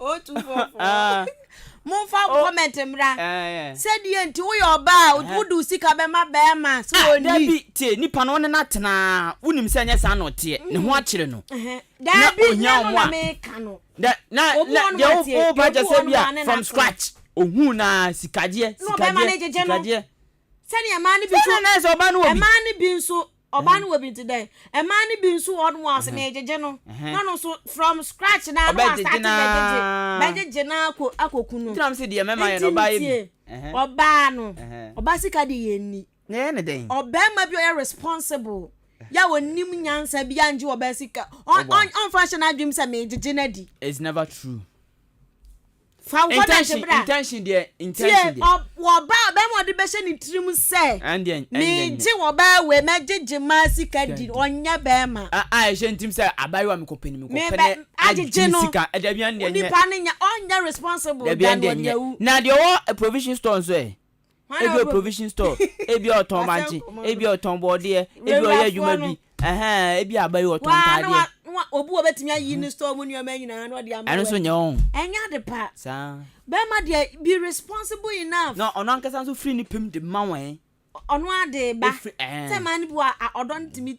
o tu fɔfɔ mo nfa mo comment mra sɛ deɛ nti woyɛ ɔbaa wode wo sika bɛma bɛrima sɛ ah, ɔni dabi tie nipa no wone no atenaa wonim sɛ ɛnyɛ saa na ɔteɛ ne ho akyere no na ɔhia ɔmo a na na deɛ woba kyɛ sɛ bi a from scratch ohun na sikadeɛ sikadeɛ sikadeɛ sɛdeɛ ɛmaa no bi so ɛmaa no bi nso Ɔbaa no wɔ bi nti dɛn? Mmaa no bi nso wɔ hɔ nom a ɔse meegyegye no na ɔno nso from scratch naa na wasate bɛgyegye bɛgyegye no akɔ akɔku no. Nti na mese deɛ mɛma yɛ no ɔbaa yɛ bi. Nti ntie ɔbaa no ɔbaa sika deɛ yɛ nni. Na yɛyɛ no dɛn? Ɔbarima bi a ɔyɛ responsible yɛ a ɔnim nyansa bi a ngye ɔbaa sika ɔn ɔn ɔnfa nhyɛ n'adwenem sɛ meegyegye no adi. It's never true. Fa wo nkɔda ase bra. Intention deɛ, intention deɛ. Tie ɔbaa bɛma ɔde bɛhyɛ ne tirim sɛ. Ɛndeɛ, ɛndeɛ. Megye ɔbaa wei, mɛgye gyemaa sika di, ɔnyɛ bɛma. A a ɛhyɛ ntim sɛ abaayewa mekɔpɛ no mekɔpɛ ne agye ne sika. Dabi ɛndeɛ nyɛ. Onipa no nyɛ, ɔnyɛ responsible than ɔdeawu. Na deɛ ɔwɔ provision store nso ɛ? Ebia ɔyɛ provision store, ebia ɔtɔn bankye, ebia ɔtɔn bɔɔdeɛ, ebia ɔyɛ adwuma bi, ɛhɛn, ebia aba yi ɔtɔn ntaadeɛ. Obi wɔ bɛtumi ayi ne store mu nneɛma nyinaa na ɔde ama. Ɛno nso nyɛ wɔn. Ɛnyɛ ade pa. Saa. Bɛrima deɛ be responsible enough. Na ɔno ankasa nso firi ne pɛm de ma wɔn. Ɔno ara de ba. Efiri ɛɛn. Sɛ maa ne bi wɔ a ɔdɔ no tumi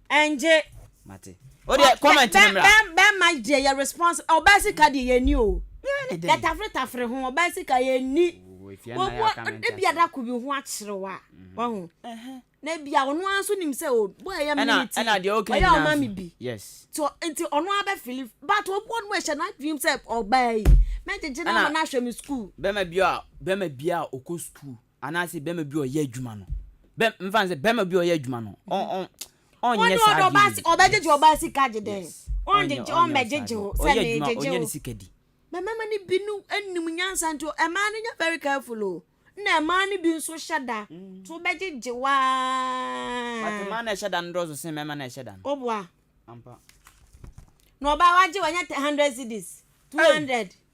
Ɛngye. Mate. O deɛ comment no mmra. Bɛma deɛ yɛ response ɔbaa sika deɛ yɛni o. Yɛ tafere tafere ho ɔbaa sika yɛni. Wɔwɔ ebi adako bi ho akyerew a mhm. wahu. Na ebi a ɔno ara nso nim sɛ o bɔ ɛyɛ miniti ɔyɛ ɔma mi bi. So nti ɔno ara bɛ fili but obi wɔn mu ɛhyɛ n'adwene sɛ ɔbaa yi mɛgyegye na ama n'ahwɛ mi sukuu. Bɛma bi a bɛma bi a ɔkɔ sukuu. Anaase bɛɛma bi ɔyɛ adwuma no bɛ mfa nsɛ bɛɛma bi ɔyɛ adwuma no ɔn ɔn ɔnyɛ saa ɔde ɔde ɔbaa si ɔbɛ gyegye ɔbaa sika gye dɛn ɔn gyegye ɔn bɛ gyegye o sɛ ne gyegye o ɔnyɛ ne sika di. Bɛ mɛma no bi no nim nyansa nti o ɛmaa no nyɛ very careful o nna ɛmaa no bi nso hyɛ da to bɛ gyegye wo aa. But mmaa na ɛhyɛ da no dɔɔso sen mɛɛma na ɛhyɛ da no. O boa. Ampa. Na ɔbaa wagye wɔ nyɛ hundred cedis two hundred.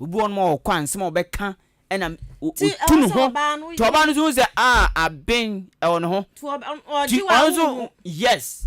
Obi wɔ hɔ nom a ɔkɔ a nsɛm a ɔbɛka ɛna otu ne ho. Ti ɔbaa no nso hu sɛ ah aben ɛwɔ ne ho. Ti ɔnso yes.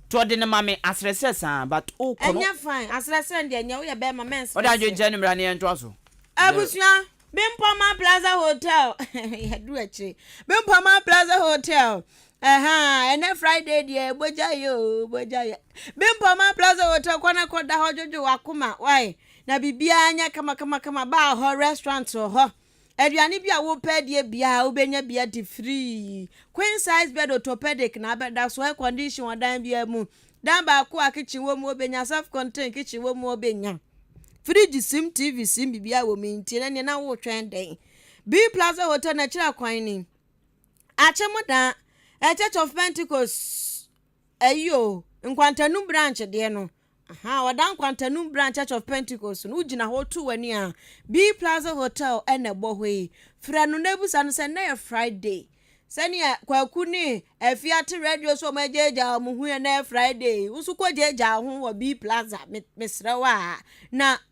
Ti ɔde ne ma me asrɛsrɛ saa but o kɔ no. Ɛnyɛ fine asrɛsrɛ deɛ nyɛ woyɛ bɛrima mɛ nsrɛsrɛ. Ɔde adwene kyɛ ne mmara ne yɛn to aso. Abusua Bimpoma Plaza Hotel yɛ du akyire Bimpoma Plaza Hotel. ɛnɛ friday deɛ bogya yɛ o bogya yɛ bimpɔma plaza hotel kɔ na kɔ da hɔ dwodwo wakoma wae Na biribiara nyɛ kamakamakama baa hɔ, restaurant wɔ hɔ, aduane bi a wopɛ adie biara wobɛnya bi adi free, queen size bed orthopedic na abɛda so, air condition wɔ dan biara mu, dan baako a kitchen wɔ mu wobɛnya, self contained kitchen wɔ mu wobɛnya, fridge sim, TV sim, biribiara wɔ mu, nti ɛnɛ na wotwɛn dɛn? Bee Plaza Hotel na akyire kwan ni, Akyem daa, a church of Pentecost. Ayi o, nkwantanum branch deɛ no, aha, ɔda nkwantanum branch Church of Pentecost no, wogyina hɔ to w'ani a, B Plaza Hotel ɛna ɛbɔ hɔ yi. Frɛ no na ebusa no sɛ nnɛ yɛ Friday. Sɛnea Kwaku ne Afi ate radio so wɔn agyaagyaa wɔn ho yɛ nnɛ yɛ Friday, wo nso kɔ gyaagyaa ho wɔ B Plaza, me, mesrɛ wo a, na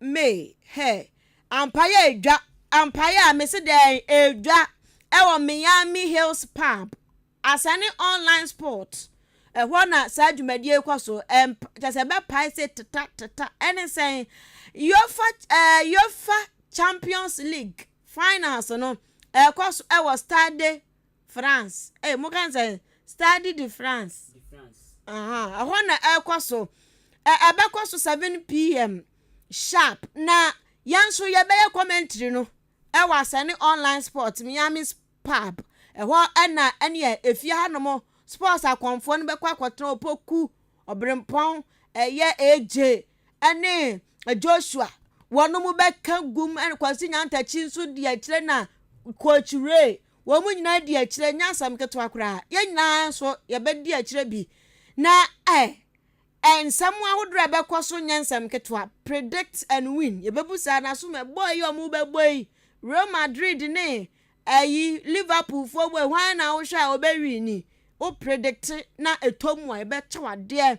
Me, Hey, ampa yɛ edwa ampa yɛ a mese dɛn edwa ɛwɔ Miami Hills Pub asane online sport ɛhɔ na saa dwumadie rekɔ so ɛmp kyɛ sɛ bɛpae se teta teta ɛne sɛn yofa ɛɛ eh, yofa champions league finals no ɛrekɔ so ɛwɔ stade France. Ɛyɛ mo kan sɛ Stade de France. Ɛhɔ na ɛkɔ so. Ɛbɛkɔ so 7 pm sharp na yɛn nso yɛbɛyɛ commentary no ɛwɔ asɛne online sport miami pub ɛhɔ ɛna ɛneɛ efie ha nom sports akɔnfoɔ no bɛkɔ akɔtena opoku ɔbrempɔn ɛyɛ aj ɛne joshua wɔn mo bɛka gum ɛne kwasi nyantakyi nso deɛ kyerɛ na coach ray Wɔn nyinaa di akyire, ɛnyɛ asɛm ketewa koraa. Yɛn nyinaa nso yɛbɛdi akyire bi. Na ɛ, ɛ nsɛm ahodoɔ a ɛbɛkɔ so nyɛ nsɛm ketewa. Predict and win. Yɛbɛbu saa na so mɛbɔ yi a wɔbɛbɔ yi. Real Madrid ne ɛyi Liverpool foɔ bɔ yi, hwan na wohwɛ a ɔbɛwini? Wo predicte na ɛtɔ mu a, ɛbɛkyɛ wo adeɛ.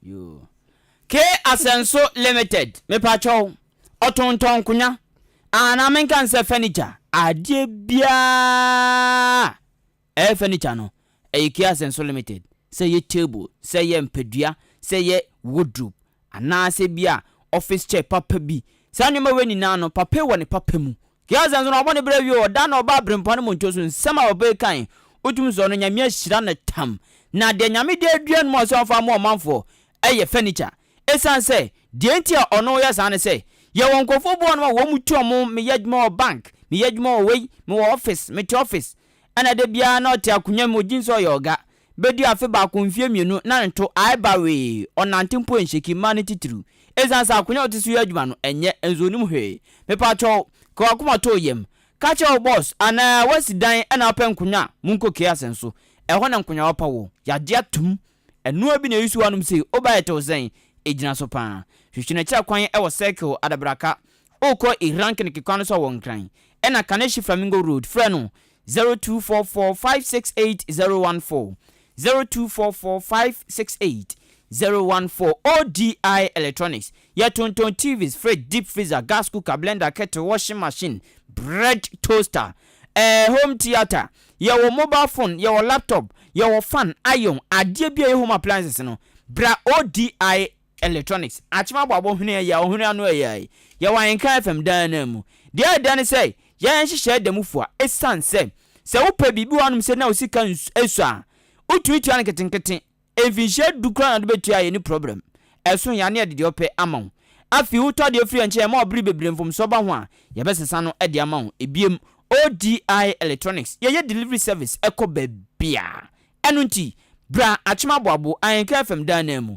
Yoo. K Asɛnso limited mepakyɛw ɔtontɔn nkonya anaa menka no sɛ furniture adeɛ biaa ɛyɛ furniture no ɛyɛ K Asɛnso limited sɛ ɛyɛ table sɛ ɛyɛ mpadua sɛ ɛyɛ wardrobe anaa sɛ bi a office chair papa bi saa nneɛma wei nyinaa no papa wɔ ne papa mu Wiase nso na wɔbɔ ne bra wie o da na ɔba abirempɔn no mu nto so nsɛm a papa yi kae wotumi sɔ no Nyame ahyira no tam na deɛ Nyame de adua no mu ɔsɛ ɔmfa mmoa ɔmanfoɔ ɛyɛ furniture ɛsiane sɛ deɛ nti a ɔno yɛ saa ne sɛ yɛwɔ nkorɔfoɔ bi wɔ hɔnom a wɔn mu tu ɔmo meyɛ adwuma wɔ bank meyɛ adwuma wɔ wei mewɔ office mete office ɛna da biara na ɔte akonwa mu ɔgye nso ɔyɛ ɔga bedi afe baako mfie mmienu na ne to aɛba wee, ɔnante mpo ɛnhyɛki mma ne titiriw. Esiane sɛ akonya a ɔte so yɛ adwuma no ɛnyɛ nso ɔnim hwee. Mepakyɛw, ka w'akoma to yam. Ka kyerɛ wo bɔs anaa woasi dan na wopɛ nkonya a, monkɔ Kease nso. Ɛhɔ na nkonyawa pa wɔ. Yɛagye atom. Ɛnoa bi na ɛresu wo anom sei, wo ba yɛ tew sɛn? Ɛgyina so pa ara. Hwehwɛ no akyira kwan wɔ Circle, Adabraka. Wokɔ Ihrankneke kwan no so a wɔ Nkran. Ɛna Kaneshie Flamingo Road, frɛ no Zero two four four five six eight zero one four zero two four four five six eight zero one four ODI Electronics yɛ tontɔn TVs, fridge, deep freezer, gas cooker, blender, kettle, washing machine, bread toaster, ɛɛ home theatre, yɛ wɔ mobile phone, yɛ wɔ laptop, yɛ wɔ fan, iron, adeɛ bi a ɛyɛ home appliances no, bra ODI Electronics, akyem abɔ abɔhwene a ɛyɛ a ɔhwene ano yɛ a, yɛwɔ ahenka FM daa anaa mu. Deɛ ɛda ne sɛ, yɛn nhyehyɛɛ da mu fua esiane sɛ, sɛ wopɛ biribi wɔ hanom sɛ na wo sika ns ɛsɔ a, wotumi tua no nketenkete. Mfinhyia du koraa na wode bɛtua a yɛnni problem. Ɛso hia ne yɛde deɛ ɔpɛ ama wo. Afei wotɔ adeɛ firi yɛn nkyɛn a ɛma ɔbere bebree mfomsoɔ ba ho a, yɛbɛsesa no de ama wo. Ebiem, ODI Electronics, yɛyɛ delivery service kɔ baabiara. Ɛno nti, bra akyem abɔ abo, ahenka FM daa anaa mu.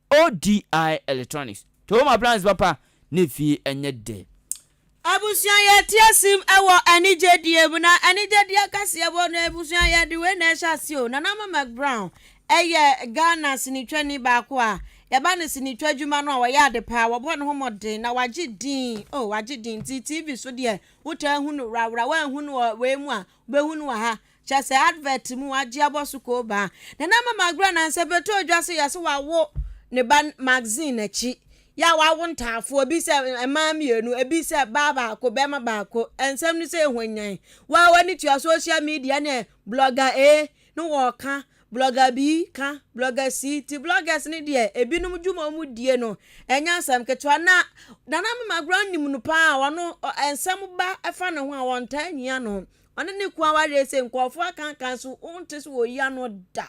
ODI Electronics, Tohom Appliances papa ne fie nyɛ dɛ. Abusua yɛ teɛ sim wɔ anigye die mu na anigye die akɛseɛ wɔ no abusua yɛ de wei na ɛhyɛ aseɛ o Nana Ama McBrown yɛ Ghana sinitwani baako a yɛba no sinitwa adwuma no a ɔyɛ ade paa wɔbɔ ne ho mmɔden na wagye din o wagye din nti TV so deɛ wotaa hu no worawora woanhu no wɔ wei mu a wobɛhu no wɔ ha Kyerɛ sɛ advert mu agye abɔ so koo baa. Nana ama magorɔ anaa sɛ bɛtɔ dwa sɛ yɛse wawo ne ba magazine akyi yɛ a wawo ntaafoɔ ebi sɛ mmaa mmienu ebi sɛ baa baako bɛɛma baako ɛnsɛm no sɛ ɛhwanyan waa wani tua social media ne blogger A no wɔɔka blogger B ka blogger C ti bloggers ne deɛ ebinom dwuma ɔmu die no ɛnyɛ asɛm ketewa na nana ama magorɔ nim no paa wɔno ɛnsɛm ba ɛfa ne ho a wɔntaa nyia no Ɔne ne kunu aware ese nkurɔfo akankan so wonte so wɔ yi ano da.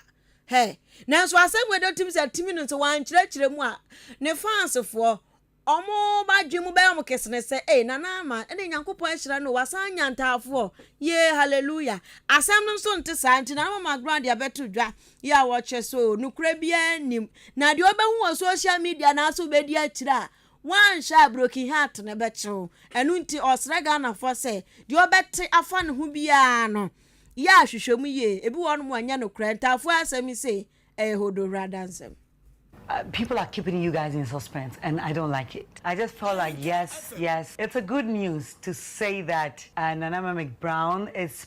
Hɛ! Nanso asɛm wei de otim sɛ tumi no nso wankyerɛkyerɛ mu a ne fansfoɔ ɔmo ba dwen mu bɛyɛ ɔmo kesene sɛ ei Nana Ama ɛne Nyankopɔn ahyira no o wasan nya ntaafoɔ yee hallelujah asɛm no nso nte saa nti Nana Mama Grant de abɛto dwa yi a wɔkyɛ so o nokorɛ biara nnim na deɛ ɔbɛhu wɔ social media anaasɛ ɔbɛdi akyire a Wanhyɛ a broken heart no bɛkye wo. Ɛno nti ɔsrɛ Ghanafoɔ sɛ deɛ ɔbɛte afa ne ho biara no yɛ ahwehwɛmu yie. Ebi wɔ hɔnom a ɛnyɛ nokorɛ. Ntaafoɔ asɛm yi sei ɛyɛ Hodohwere adansɛm. People are keeping you guys in suspense and I don't like it. I just felt like yes yes it's a good news to say that Nana Mamick Brown is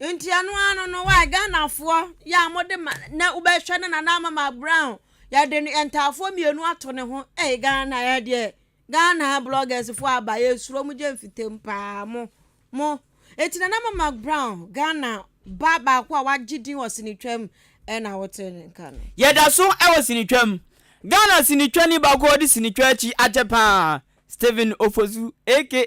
Nti ɛno ano no wae Ghanafoɔ yɛ a mode ma na wobɛhwɛ no Nana Amama Brown yɛde no ntaafoɔ mmienu ato ne ho ɛyɛ Ghana yɛ deɛ Ghana bloggers foɔ aba yɛsuro mo gye mfitam paa mo mo ɛti Nana Amama Brown Ghana ba baako a wagye din wɔ sinitwam ɛna wote ne nka no. Yɛda so wɔ sinitwam. Ghana sinitwani baako a ɔde sinitwa akyi akyɛ paa Stephen Ofosu aka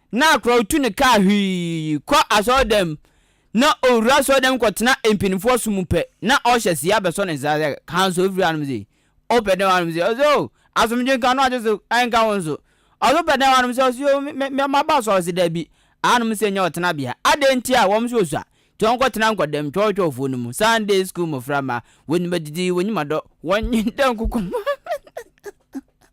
na akoraw tu no kaa hwii kɔ asɔrdan mu, na owura asɔrdan mu kɔtena mpanyimfo ɔsom mu pɛ, na ɔhyɛ se abɛsɔ ne nsa sɛ, Ka nso ofiri anom se, Wopɛ dɛn wɔ anom se? Ɔse, Oh, asomdwe nka no agye so nka wo nso. Ɔse, Wopɛ dɛn wɔ anom se? Ɔse, Oh, me, me, maba asɔre. Ɔse, Dabi, anom se nyɛ ɔtenabea. Adɛn nti a? Wɔn nso osua. Nti wɔnkɔtena nkɔdam twɔwtwɔwfo no mu. Sunday school mmofra mma, wonim adidi, wonim adɔ, wɔnnye dɛ nkokoam.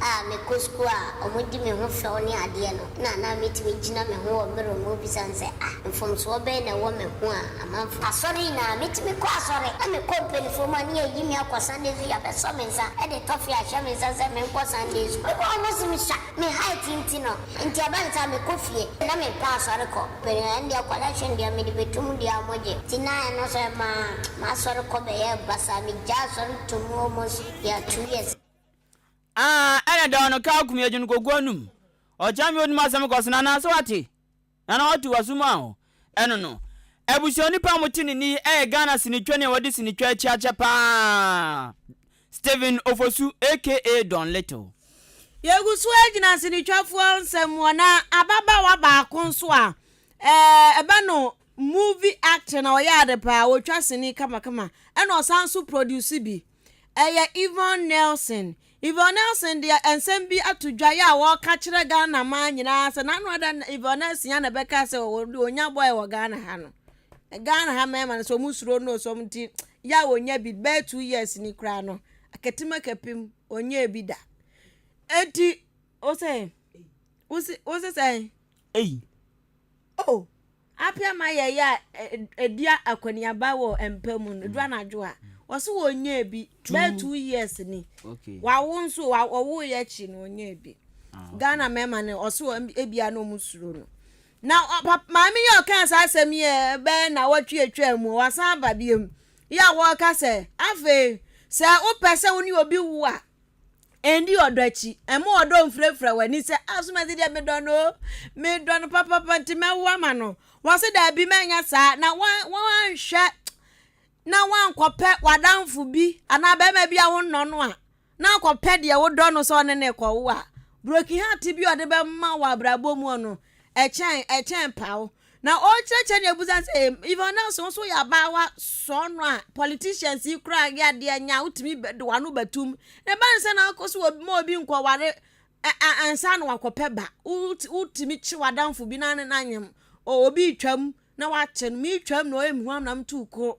a mekɔ sukuu a wɔdi me ho fɛw ne adeɛ no na na metumi gyina me ho wɔ mirror mu bisa no sɛ, Ah, mfomsoɔ bɛn na ɛwɔ me ho a amanfoɔ. Asɔre nyinaa, metumi kɔ asɔre na mekɔ mpanimfoɔ mu a ne yɛyi me akɔ Sunday School, yɛabɛsɔ me nsa de tɔfe ahyɛ me nsa sɛ menkɔ Sunday School. Mekɔ hɔ no wɔse mesua, me height nti no, nti ɛba no saa a mekɔ fie. Na mempɛ asɔre kɔ, panyin ɛndeɛ collection deɛ mede bɛto mu deɛ a wɔgye, nti na ɛno nso ɛmaa m'asɔre kɔ bɛyɛɛ basaa, megyaa asɔre tomm almost bɛyɛ two years. Aah ɛna da ɔno kaa kum yɛ dwene kɔ gu anum ɔkyɛ me onim asɛm kɔ sena naa sɛ wate nana watu waso mu aho ɛno no abusua onipa a mote ne ni ɛyɛ Ghana sini twɛ nea wɔde sini twɛ akyi akyɛ paa Stephen Ofosu aka Don Little. Yɛgu so agyina sinitwafoɔ nsɛm mu ɔ na ababaawa baako nso a ɛbɛ no movie actor na ɔyɛ ade paa ɔtwa sini kamakama ɛna ɔsan nso produce bi. ɛyɛ Yvonne Nelson. Yvonne Nelson deɛ nsɛm bi ato dwa yɛ a wɔka kyerɛ Ghana man nyinaa sɛ n'ano ada na Yvonne Nelson yɛ na bɛka sɛ wɔde onya bɔɛ wɔ Ghana ha no. Ghana ha mmarima no sɛ wɔn suro no sɛ wɔn ti yɛ a wɔnya bi bɛyɛ two years ni koraa no akatim akapim wɔnyɛ bi da. Eti wosɛ wosɛ wosɛ sɛn? Ei. Oh. Apɛ ma yɛyɛ a, edi akɔneaba wɔ mpa mu no, edu anadwo a, wɔse wɔnyɛɛ bi bɛyɛ two years ni. Wawo nso, ɔwoeɛ akyi no, ɔnyɛɛ bi. Ah, Ghana mmarima no, ɔse ebia na wɔn suro no. Na maame yi ɔkaa saa asɛm yi bɛyɛ na wɔtwe atwa mu, wasan aba biom. Yɛ a wɔka sɛ, afei, sɛ wopɛ sɛ wo ne obi wo a, Ɛndi ɔdɔ akyi. Ɛmma ɔdɔ mfirafira w'ani sɛ, ah, Somasi deɛ medɔ no o, medɔ no papapa nti mɛwo ama no. Wɔse daabi mɛnyɛ saa na woanhwɛ na woankɔpɛ w'adamfo bi anaa bɛrima bi a wonnɔ no a na akɔpɛ deɛ wodɔ no sɛ ɔne ne kɔwo a, broken heart bi a ɔde bɛma wɔ abrabɔ mu no ɛkyɛn ɛkyɛn paw. Na ɔrekyerɛkyerɛ ne abusa sɛ Yvonne Nelson nso yɛ abaawa sɔɔ no a politicians yi koraa yɛ adeɛ nyɛ a wotumi de w'ano bɛtom. Na ɛba no sɛ na akɔ so ma obi nkɔware ansa na wakɔpɛ ba. Wotumi kye w'adamfo bi na ne n'anyem. Obi retwam na wakye no. Meretwam na ɔyɛ mehuam na metu koro.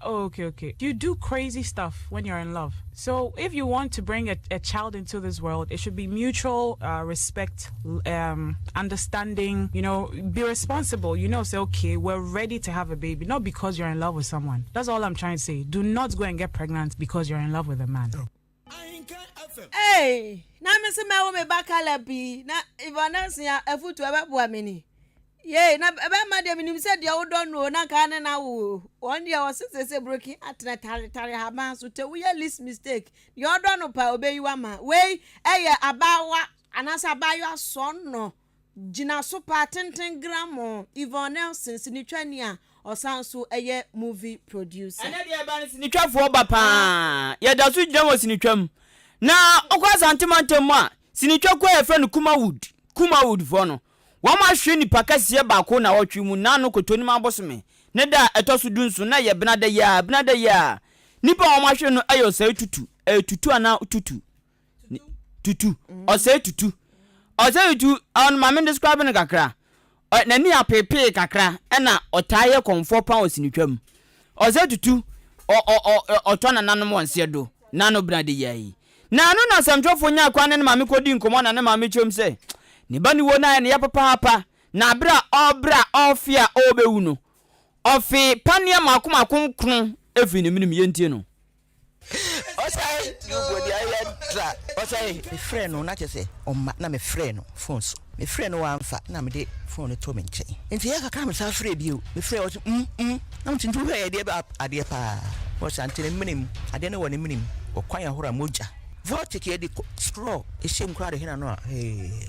Oh okay okay you do crazy stuff when you're in love so if you want to bring a a child into this world it should be mutual uh, respect um, understanding you know be responsible you know say okay we're ready to have a baby not because you're in love with someone that's all I'm trying to say do not go and get pregnant because you're in love with a man. Ei, na me se mɛwo me ba Caleb yi, na Yvonne Asia afutu ɛbɛboa me ni. Yei, na ɛbɛma deɛ menim sɛ deɛ wodɔ no o, na nka ne na wo o. Wɔn deɛ wɔse sɛ sɛ broken atena taretare haban so, tɛ woyɛ least mistake. Deɛ ɔdɔ no paa obeyi wama. Wei ɛyɛ abaawa anaasɛ abaayewa sɔnnɔ. Gyinaso pa tenten grammɔ Yvonne Nelson sinitwani a ɔsan nso yɛ movie producer. Ɛnnɛ deɛ yɛba no sinitwafoɔ ba pa ara. Yɛda so gyina wɔ sinitwa mu. Na wokɔ Asante mantam mu a, sinitwa kuo a yɛfrɛ no Kumawood, Kumawood foɔ no, wɔn ahwere nnipa kɛseɛ baako nnawɔtwe mu na ano Kotonim abosome ne da a ɛtɔ so du nson na ɛyɛ Benada yi ara, Benada yi ara. Nnipa a wɔn ahwere no yɛ ɔsɛe tutu, ɛyɛ tutu anaa tutu. tutu ɔsɛe tutu ɔsɛe tutu ɔno maame describe no kakra n'ani apepee kakra ɛna ɔtaa yɛ kɔnfoɔ pan ɔsinitwam ɔsɛe tutu ɔtɔ nananom wɔn seɛ do na no bena de yɛ yi na ano na asɛmtwerɛfoɔ nya kwan ne ne maame kɔdi nkɔmmɔ na ne maame kyerɛm sɛ ne ba ne wuo no ayɛ ne yɛ papaapa na abere a ɔbrɛ a ɔfe a ɔbɛwu no ɔfe paneɛ mako mako nkron ɛfiri ne menem yɛntie no ɔsan nubuo deɛ ayɛ tra ɔsan. mefrɛ no na kyɛ sɛ ɔma na mefrɛ no phone so mefrɛ no wamfa na mede phone no to me nkyɛn nti yɛ kakra mesan frɛ bio mefrɛ ɔse mm mm na nti nti wohwɛ adeɛ bɛ adeɛ paa ɔsa nti ne mene mu adeɛ no wɔ ne mene mu ɔkwan ahora mogya vortic yɛde straw ɛhyɛ mu koraa de hena no a hee.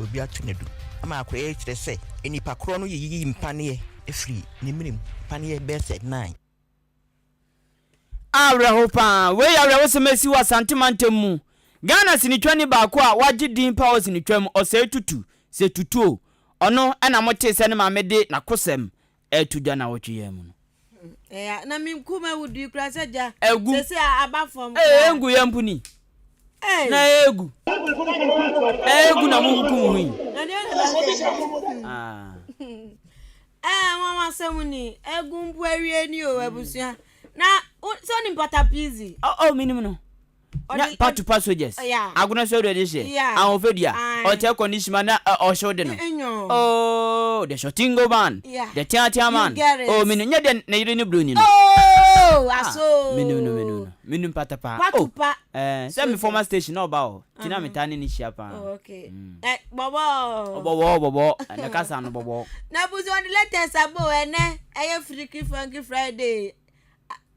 Obi ato no du ama akɔyɛ kyerɛ sɛ nnipa korɔ no yiyi mpaneɛ firi ne mene mu, mpaneɛ bɛyɛ sɛ nnan. Awerɛhow paa! Wei yɛ awerɛhosɛm a asi wɔ Asante mantam mu. Ghana sinitwani baako a wagye din paa wɔ sinitwa mu, Osei Tutu, Sɛ Tutu o, ɔno na motee sɛ ne maame de n'akosɛm Ɛreto dwa nnawɔtwe yi ara mu no. Ɛɛ a, na me nkum awudui koraa sɛ gya. Agu. Seesei a, aba fam Ee, koraa. engu yɛn mpo ni. Ee. Na egu. Ee, egu na munkum ho yi. Na deɛ na ɛbɛyɛ deɛ na. Ah. Ee, nwanwa asɛm ni. Egu mpo awie ni o, abusua. Na, wo, sɛ wonim patapizi? Oh, oh, menim no. na patupa sogyɛs agono sɛ ɔdɔ de hyɛ ahofadua ɔkyɛ kɔndisima na ɔhyew de no ooo the shortingo man the teatea man ooo menu nyɛ dɛ ne yere ne broni no ooo menu no menu no menu patapa patupa sɛ me former station na ɔba hɔ ti na metaa ne ne hyia paa bɔbɔ bɔbɔ bɔbɔ ne kasa no bɔbɔ na busu ɔde latest abo ɛnɛ ɛyɛ firiki funky friday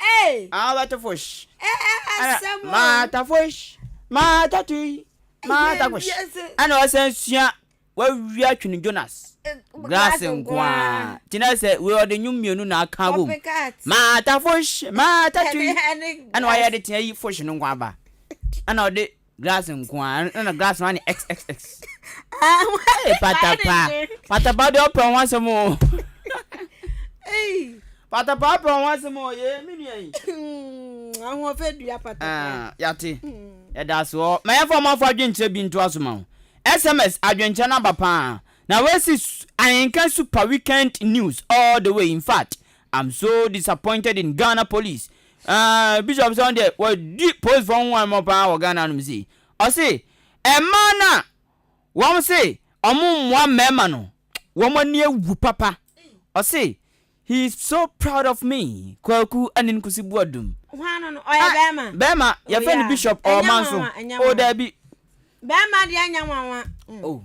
Ei! Alberto Fosh. Ɛ ɛ asɛm o. Martha Fosh. Martha Tui. Martha Fosh. Ɛna ɔsan sua wawia twene Jonas. Glass nkoa. Tina sɛ wei ɔde nnwom mmienu na aka abom. Martha Fosh. Martha Tui. Ɛna wayɛ de tea yi Fosh no nko aba. Ɛna ɔde Glass nko ara, ɛn ɛna glass no ayɛ xxx. Ee patapa, patapa deɛ ɔpɛ ho asɛm o. Patapa ɔpɛ ho asɛm o, yee me nua yi. Hmm, ahoɔfɛ dua patapa. Ah, yate, hmm. yɛda ase hɔ. Ma yɛmfa ɔmo afɔ adwenkyerɛ bi nto aso ma ho. SMS adwenkyerɛ no aba paa. Na wɔasi ahenka super weekend news all the way in fact. I'm so disappointed in Ghana police. Aah Bishop sɛ ɔno deɛ wadi polisfoɔ ho huammɔ paa wɔ Ghana hanom sei. Ɔse mmaa no a wɔn se wɔn mmoa mmarima no wɔn ani awu papa. Ɔse he is so proud of me Kwaku Anin Nkusi Boadum. Hwan no no? Ɔyɛ bɛrima? Ah, bɛrima. Yɛfrɛ no Bishop ɔwɔ Manso. Oh daabi. Bɛrima deɛ nyɛ nwanwa. Oh.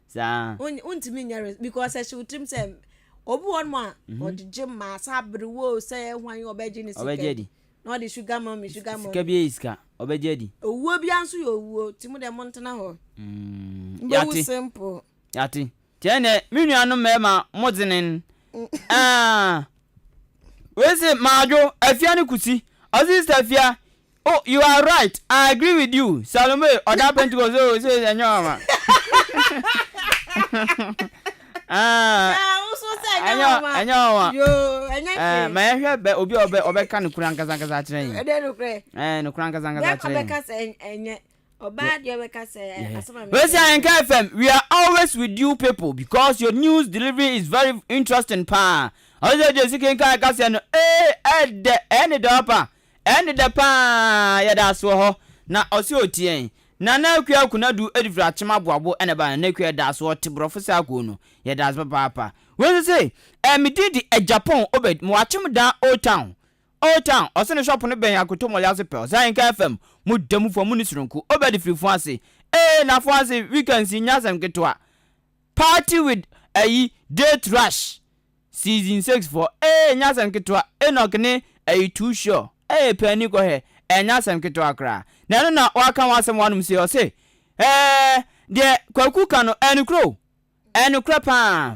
Saa. Wontumi nyɛ re because ɛhyɛ wo tirim sɛ obi wɔ hɔnom a mhm. ɔde gye ma sɛ abere wo sɛ hwan ɔbɛgye ne sika adi na ɔde sugar mummy sugar mummy sika bi yɛ sika ɔbɛgye adi owuo bi nso yɛ owuo ti mu dɛ mo ntena hɔ mm, mbɛwu simple yate kyɛn nɛ me nuanom mmarima mo dzenen mm. ah. wei se maadwo afia ne kusi ɔse sista fia Oh you are right I agree with you Salome ɔda pentecost oh se ɛnyɛ ɔma ɛnyɛ ɔma ma yɛhwɛ bɛ obi a ɔbɛka no kura nkasa nkasa akyerɛ yi ɛɛ no kura nkasa nkasa akyerɛ yi Wesi Ayenka FM we are always with you people because your news delivery is very interesting paa ɔsɛ jesi kenkan kaseɛ no ee ɛdɛ ɛne dɛ ɔpa Ɛnde dɛ paa yɛda ase wɔ hɔ na ɔse otie yɛn. Nana Akua Kunadu Edifiri Akyem Aboabo na ɛba Nana Akua yɛda ase ɔte borɔfo saa kuo no yɛda ase papaapa. Wei nso se ɛɛ me din de Agyapong Obed mewɔ Akyem Dan Old Town Old Town ɔse ne shop no bɛn Akoto Mall ase pɛ ɔse Ahenka FM mo da mu foɔ mo nni soronko Obed firi Fuanse ee na Fuanse weekends yi nyɛ asɛm ketewa party with ayi date rush. Season six foɔ ee nyɛ asɛm ketewa Enoch ne ɛyi too sure ee pɛ ani kɔ hɛ ɛnyɛ asɛm ketewa koraa na ɛno na waka ho asɛm wɔ anom sei ɔse ɛɛ deɛ Kwaku ka no ɛyɛ nokorɛ o ɛyɛ nokorɛ paa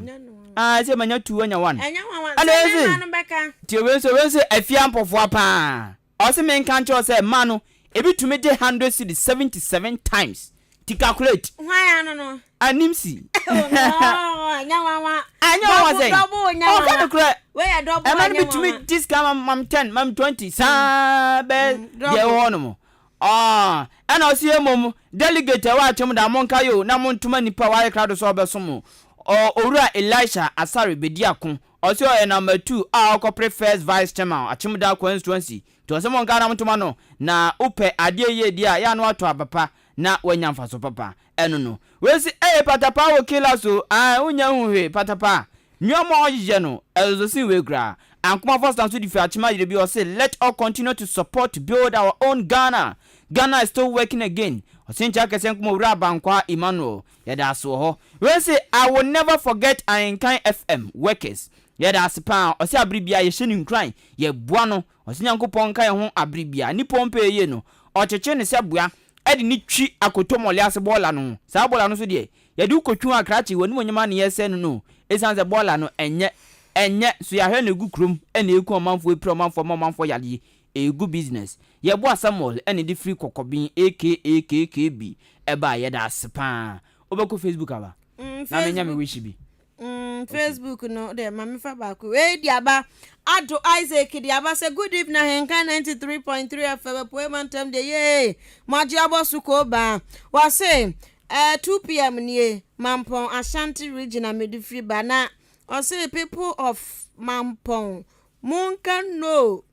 aa ɛsɛ manya two anya one ɛna ɛse tie wei nso wei nso ɛfia mpɔfoa paa. Ɔse menka nkyerɛ wo sɛ mma no ebi tumi gye hundred cedis seventy seven times ti calculate. Hwan ano no? Anim si. Oh no, ɛnyɛ nwanwa. Ɛnyɛ nwanwa sɛn? Dɔbo nyɛ nwanwa. Ɔka no korɛ. Wei yɛ dɔbo ɛnyɛ nwanwa. Ɛma no bi tumi gye sika mam mam ten mam twenty saa bɛ deɛ ɛwɔ hɔ nom. Ɛna ɔse yɛ mmom delegate ɛwɔ atwam da monka yo na montoma nipa a wayɛ krado sɛ ɔbɛsom owura Elisha Asare bedi ako Ɔse ɔyɛ number two a ɔkɔpre first vice chairman Akyemda constituency nti ɔse monka anam ntoma no na wopɛ adeɛ yie di a yɛ a na watɔ aba pa na wanya mfaso papa ɛno no wei se ɛyɛ patapaa wɔ killers o ae wonnya nhu hwee patapaa nnoɔma a ɔhyehyɛ no ɛsoso sen wei koraa Ankoma Foster nso de firi Akyem ayere bi ɔse let all continue to support to build our own Ghana Ghana is still working again ɔse nkyɛ kɛseɛ nkɔma Owura Abankwaa Emmanuel Yɛda ase wɔ hɔ. Wei se I will never forget Ahenkan FM workers. Yɛda ase paa. Ɔse abere biaa yɛhyɛ no nkuran, yɛboa no. Ɔse Nyankopɔn nka yɛn ho abere biaa. Nnipa ɔmpɛ yɛyie no, ɔkyekye no sɛ boa de no twi akotomɔle ase bɔɔla no ho. Saa bɔɔla no nso deɛ, yɛde wo kɔtwi ho akrakye, w'animuonyam ara na yɛresɛe no no. Esiane sɛ bɔɔla no ɛnyɛ ɛnyɛ, nso yɛahwɛ na ɛgu kurom na ɛreku ɔmanfoɔ, ɛpira ɔmanfoɔ, ɛma ɔmanfoɔ yadeɛ. Ɛyɛ good business. Yɛboa Samuel na ɛde firi kɔkɔben aka KKB ɛbaɛ yɛda ase paa. Wobɛkɔ Facebook aba na menya me wish bi. Mm Facebook no deɛ ma mefa baako wei de aba Addo Isaac de aba sɛ good evening Ahenka 93.3 FM Apueɛ Mantam deɛ yee mo agye abɔ so koo baa wɔse eh, 2pm nie Mampɔn Ashanti region a mede firi ba na ɔse people of Mampɔn monka no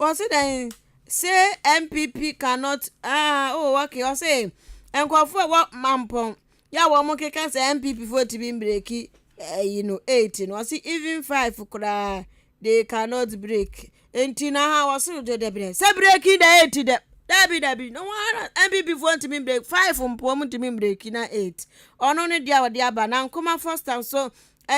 Wɔsi dɛn say NPP cannot ah oh okay ɔsi nkurɔfoɔ ɛwɔ mampɔn yɛ a wɔn keka sɛ NPP foɔ etimi mbreki ɛyi no eight no ɔsi even five koraa they cannot break nti na ha wɔsi no dɛdɛ brɛ sɛ breki dɛ eight dɛ dɛbi dɛbi na wɔn ara NPP foɔ ntumi breki five mpo wɔn ntumi breki na eight ɔno ne deɛ a wɔde aba na nkomafoɔ stand so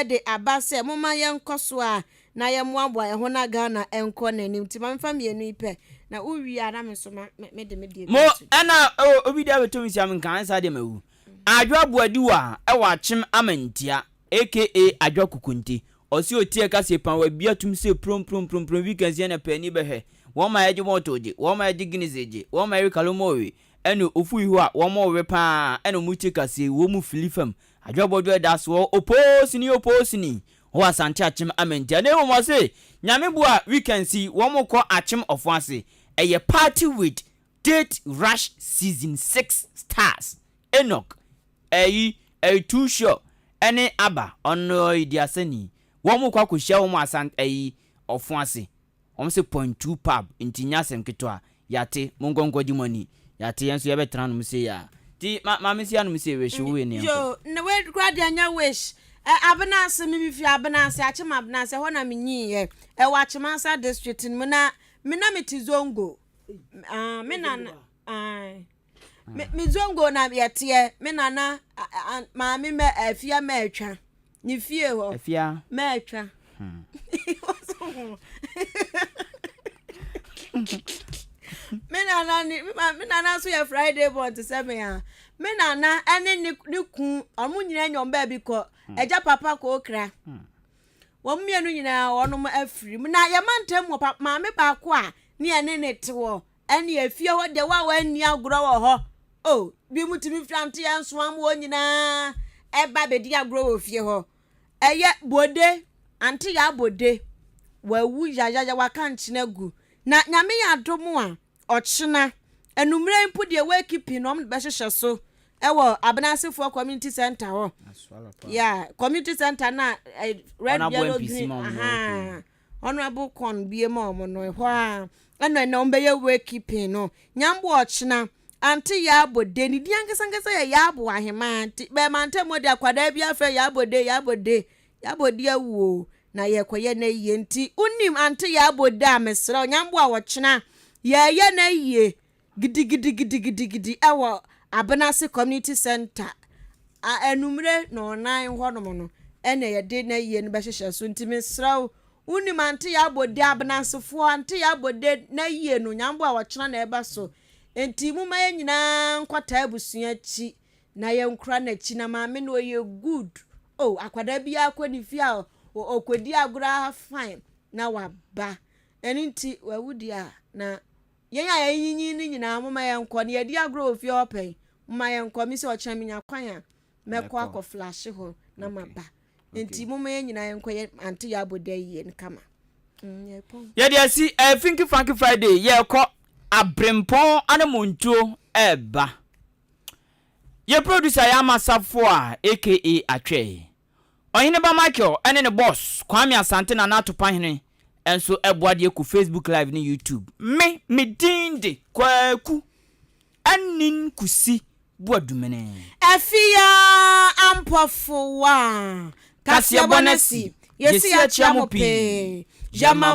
de aba sɛ momma yɛnkɔ so a na yɛmmoaboa ɛho na Ghana nkɔ n'anim nti ma memfa mmienu yi pɛ na wowie a na me nso mede me deɛ bi ato dwa. Mo ɛna ɛwɔ obi deɛ abɛtɔ me sia me nka ansa deɛ mawu. Adwo Aboadiwa a ɛwɔ Akyem Amantia aka Adwo Akukunte ɔse otie ɛka se pan wabie atom se prom prom prom prom wika nsia na paani bɛhwɛ wɔn ma yɛgye bɔtol gye wɔn ma yɛgye Guinness gye wɔn ma yɛwe kalomoowe ɛne ofu yi hɔ a wɔn ɔwe paa ɛna ɔmo tie ka se wɔn fili fam Adwoa Bɔdwoa da so wɔ Opoosini Opoosini wɔ Asante Akyem Amantia na mmom ɔse Nyame boa weekends yi wɔn kɔ Akyem Ɔfon ase ɛyɛ party with Date Rush Season six stars Enoch Ayi Ayi Too Sure ɛne Abba ɔno ɔyɛ duasani wɔn kɔ akɔhyia wɔn Asant Ayi Ɔfon ase Wɔn se point two pub nti nyɛ asɛm ketewa. Yɛate. Monkɔ nkɔgye mo ani. Yɛate, yɛn nso yɛbɛtra anom sei ara. Nti ma maame nsi anom sei, Wish, wo wei no yɛnkɔ. Yoo, na wei koraa deɛ ɛnyɛ Wish. Ɛ, Abenase, me me firi Abenase, Akyem Abenase, ɛhɔ na me nyiiɛ. Ɛwɔ Akyem Ansa District no mu, na me na me te Zongo. Aah, me nana, aah. me me zongo na yɛteɛ me nana maame mɛ afia mɛ atwa ne fie hɔ afia mɛ atwa hmm. me nana ne me nana nso yɛ friday born te sɛ me a me nana ɛne ne ne kun ɔmo nyinaa nyɛ ɔmo baabi kɔ hmm. ɛgya papa kɔ okra hmm. wɔn mmienu nyinaa wɔn afiri na yɛn mantam wɔ maame baako a ne yɛn ne ne te wɔ. Ɛne efie hɔ deɛ wa wanni agorɔ wɔ hɔ oh binom tumi firi anteɛ nsoam hɔ nyinaa ɛba abɛdi agorɔ wɔ fie hɔ ɛyɛ bode ante yɛ abode wawu yayaya waka nkyene agu na nyame yɛ adom a ɔkyena anummerɛ mpo deɛ wakipi na ɔm bɛhyehyɛ so ɛwɔ abenasefoɔ community center hɔ yeah community center na red yellow green ahaa Honourable Kwon bue maa wɔn no, ɛhɔ ara ɛna ɛna wɔbɛyɛ wake keeping no. Nyambo ɔkyena, ante Yaabo de, ne din ankasa ankasa yɛ Yaabo Ahemaa nti bɛɛma ntam hɔ de akwadaa bi afrɛ Yaabo de, Yaabo de, Yaabo de awu o, na yɛrekɔyɛ no ayie nti wonim ante Yaabo de a mesrɛ wo, Nyambo a ɔkyena yɛreyɛ no ayie, gidigidigidigidigidi wɔ Abenase Community Centre a anwummere nnɔnnan hɔnom no na yɛde n'ayie no bɛhyehyɛ so. Nti mesrɛ wo, wonim Ante Yabode, Abenasefoɔ, Ante Yabode n'ayie no, Nyambo a ɔkyena na ɛba so. Nti momma yɛn nyinaa nkɔtaa abusua akyi na yɛnkora n'akyi. Na maame no ɔyɛ good. Oh, akwadaa biara kɔ ne fie a ɔkɔdi agorɔ ara fine na waba. Ɛno nti wawu deɛ a na Yɛn a yɛanyinyin no nyinaa, momma yɛnkɔ, na yɛadi agorɔ wɔ fie hɔ pɛn, momma yɛnkɔ. Me sɛ ɔkyena menya kwan a, mɛkɔ akɔ flashe hɔ na maba. Nti momma yɛn nyinaa yɛnkɔ, yɛ ante yɛ abɔda yi yɛ no kama. Mm, yɛpɔn. Yɛde asi eh, Finky Funky Friday, yɛkɔ Abrempɔn Anamontuo ɛɛba. Yɛ producer yɛ Amasafo a aka Atwɛe. Ɔhene ba Michael ne ne boss Kwame Asante Nana Atopahene nso aboa de aku Facebook Live ne YouTube. Me, me din de Kwaku Anin Kusi Boadumene. Afia Ampɔfo wa. Kaseɛbɔ no asi, yɛsi akyea mo pii. Gyama mo.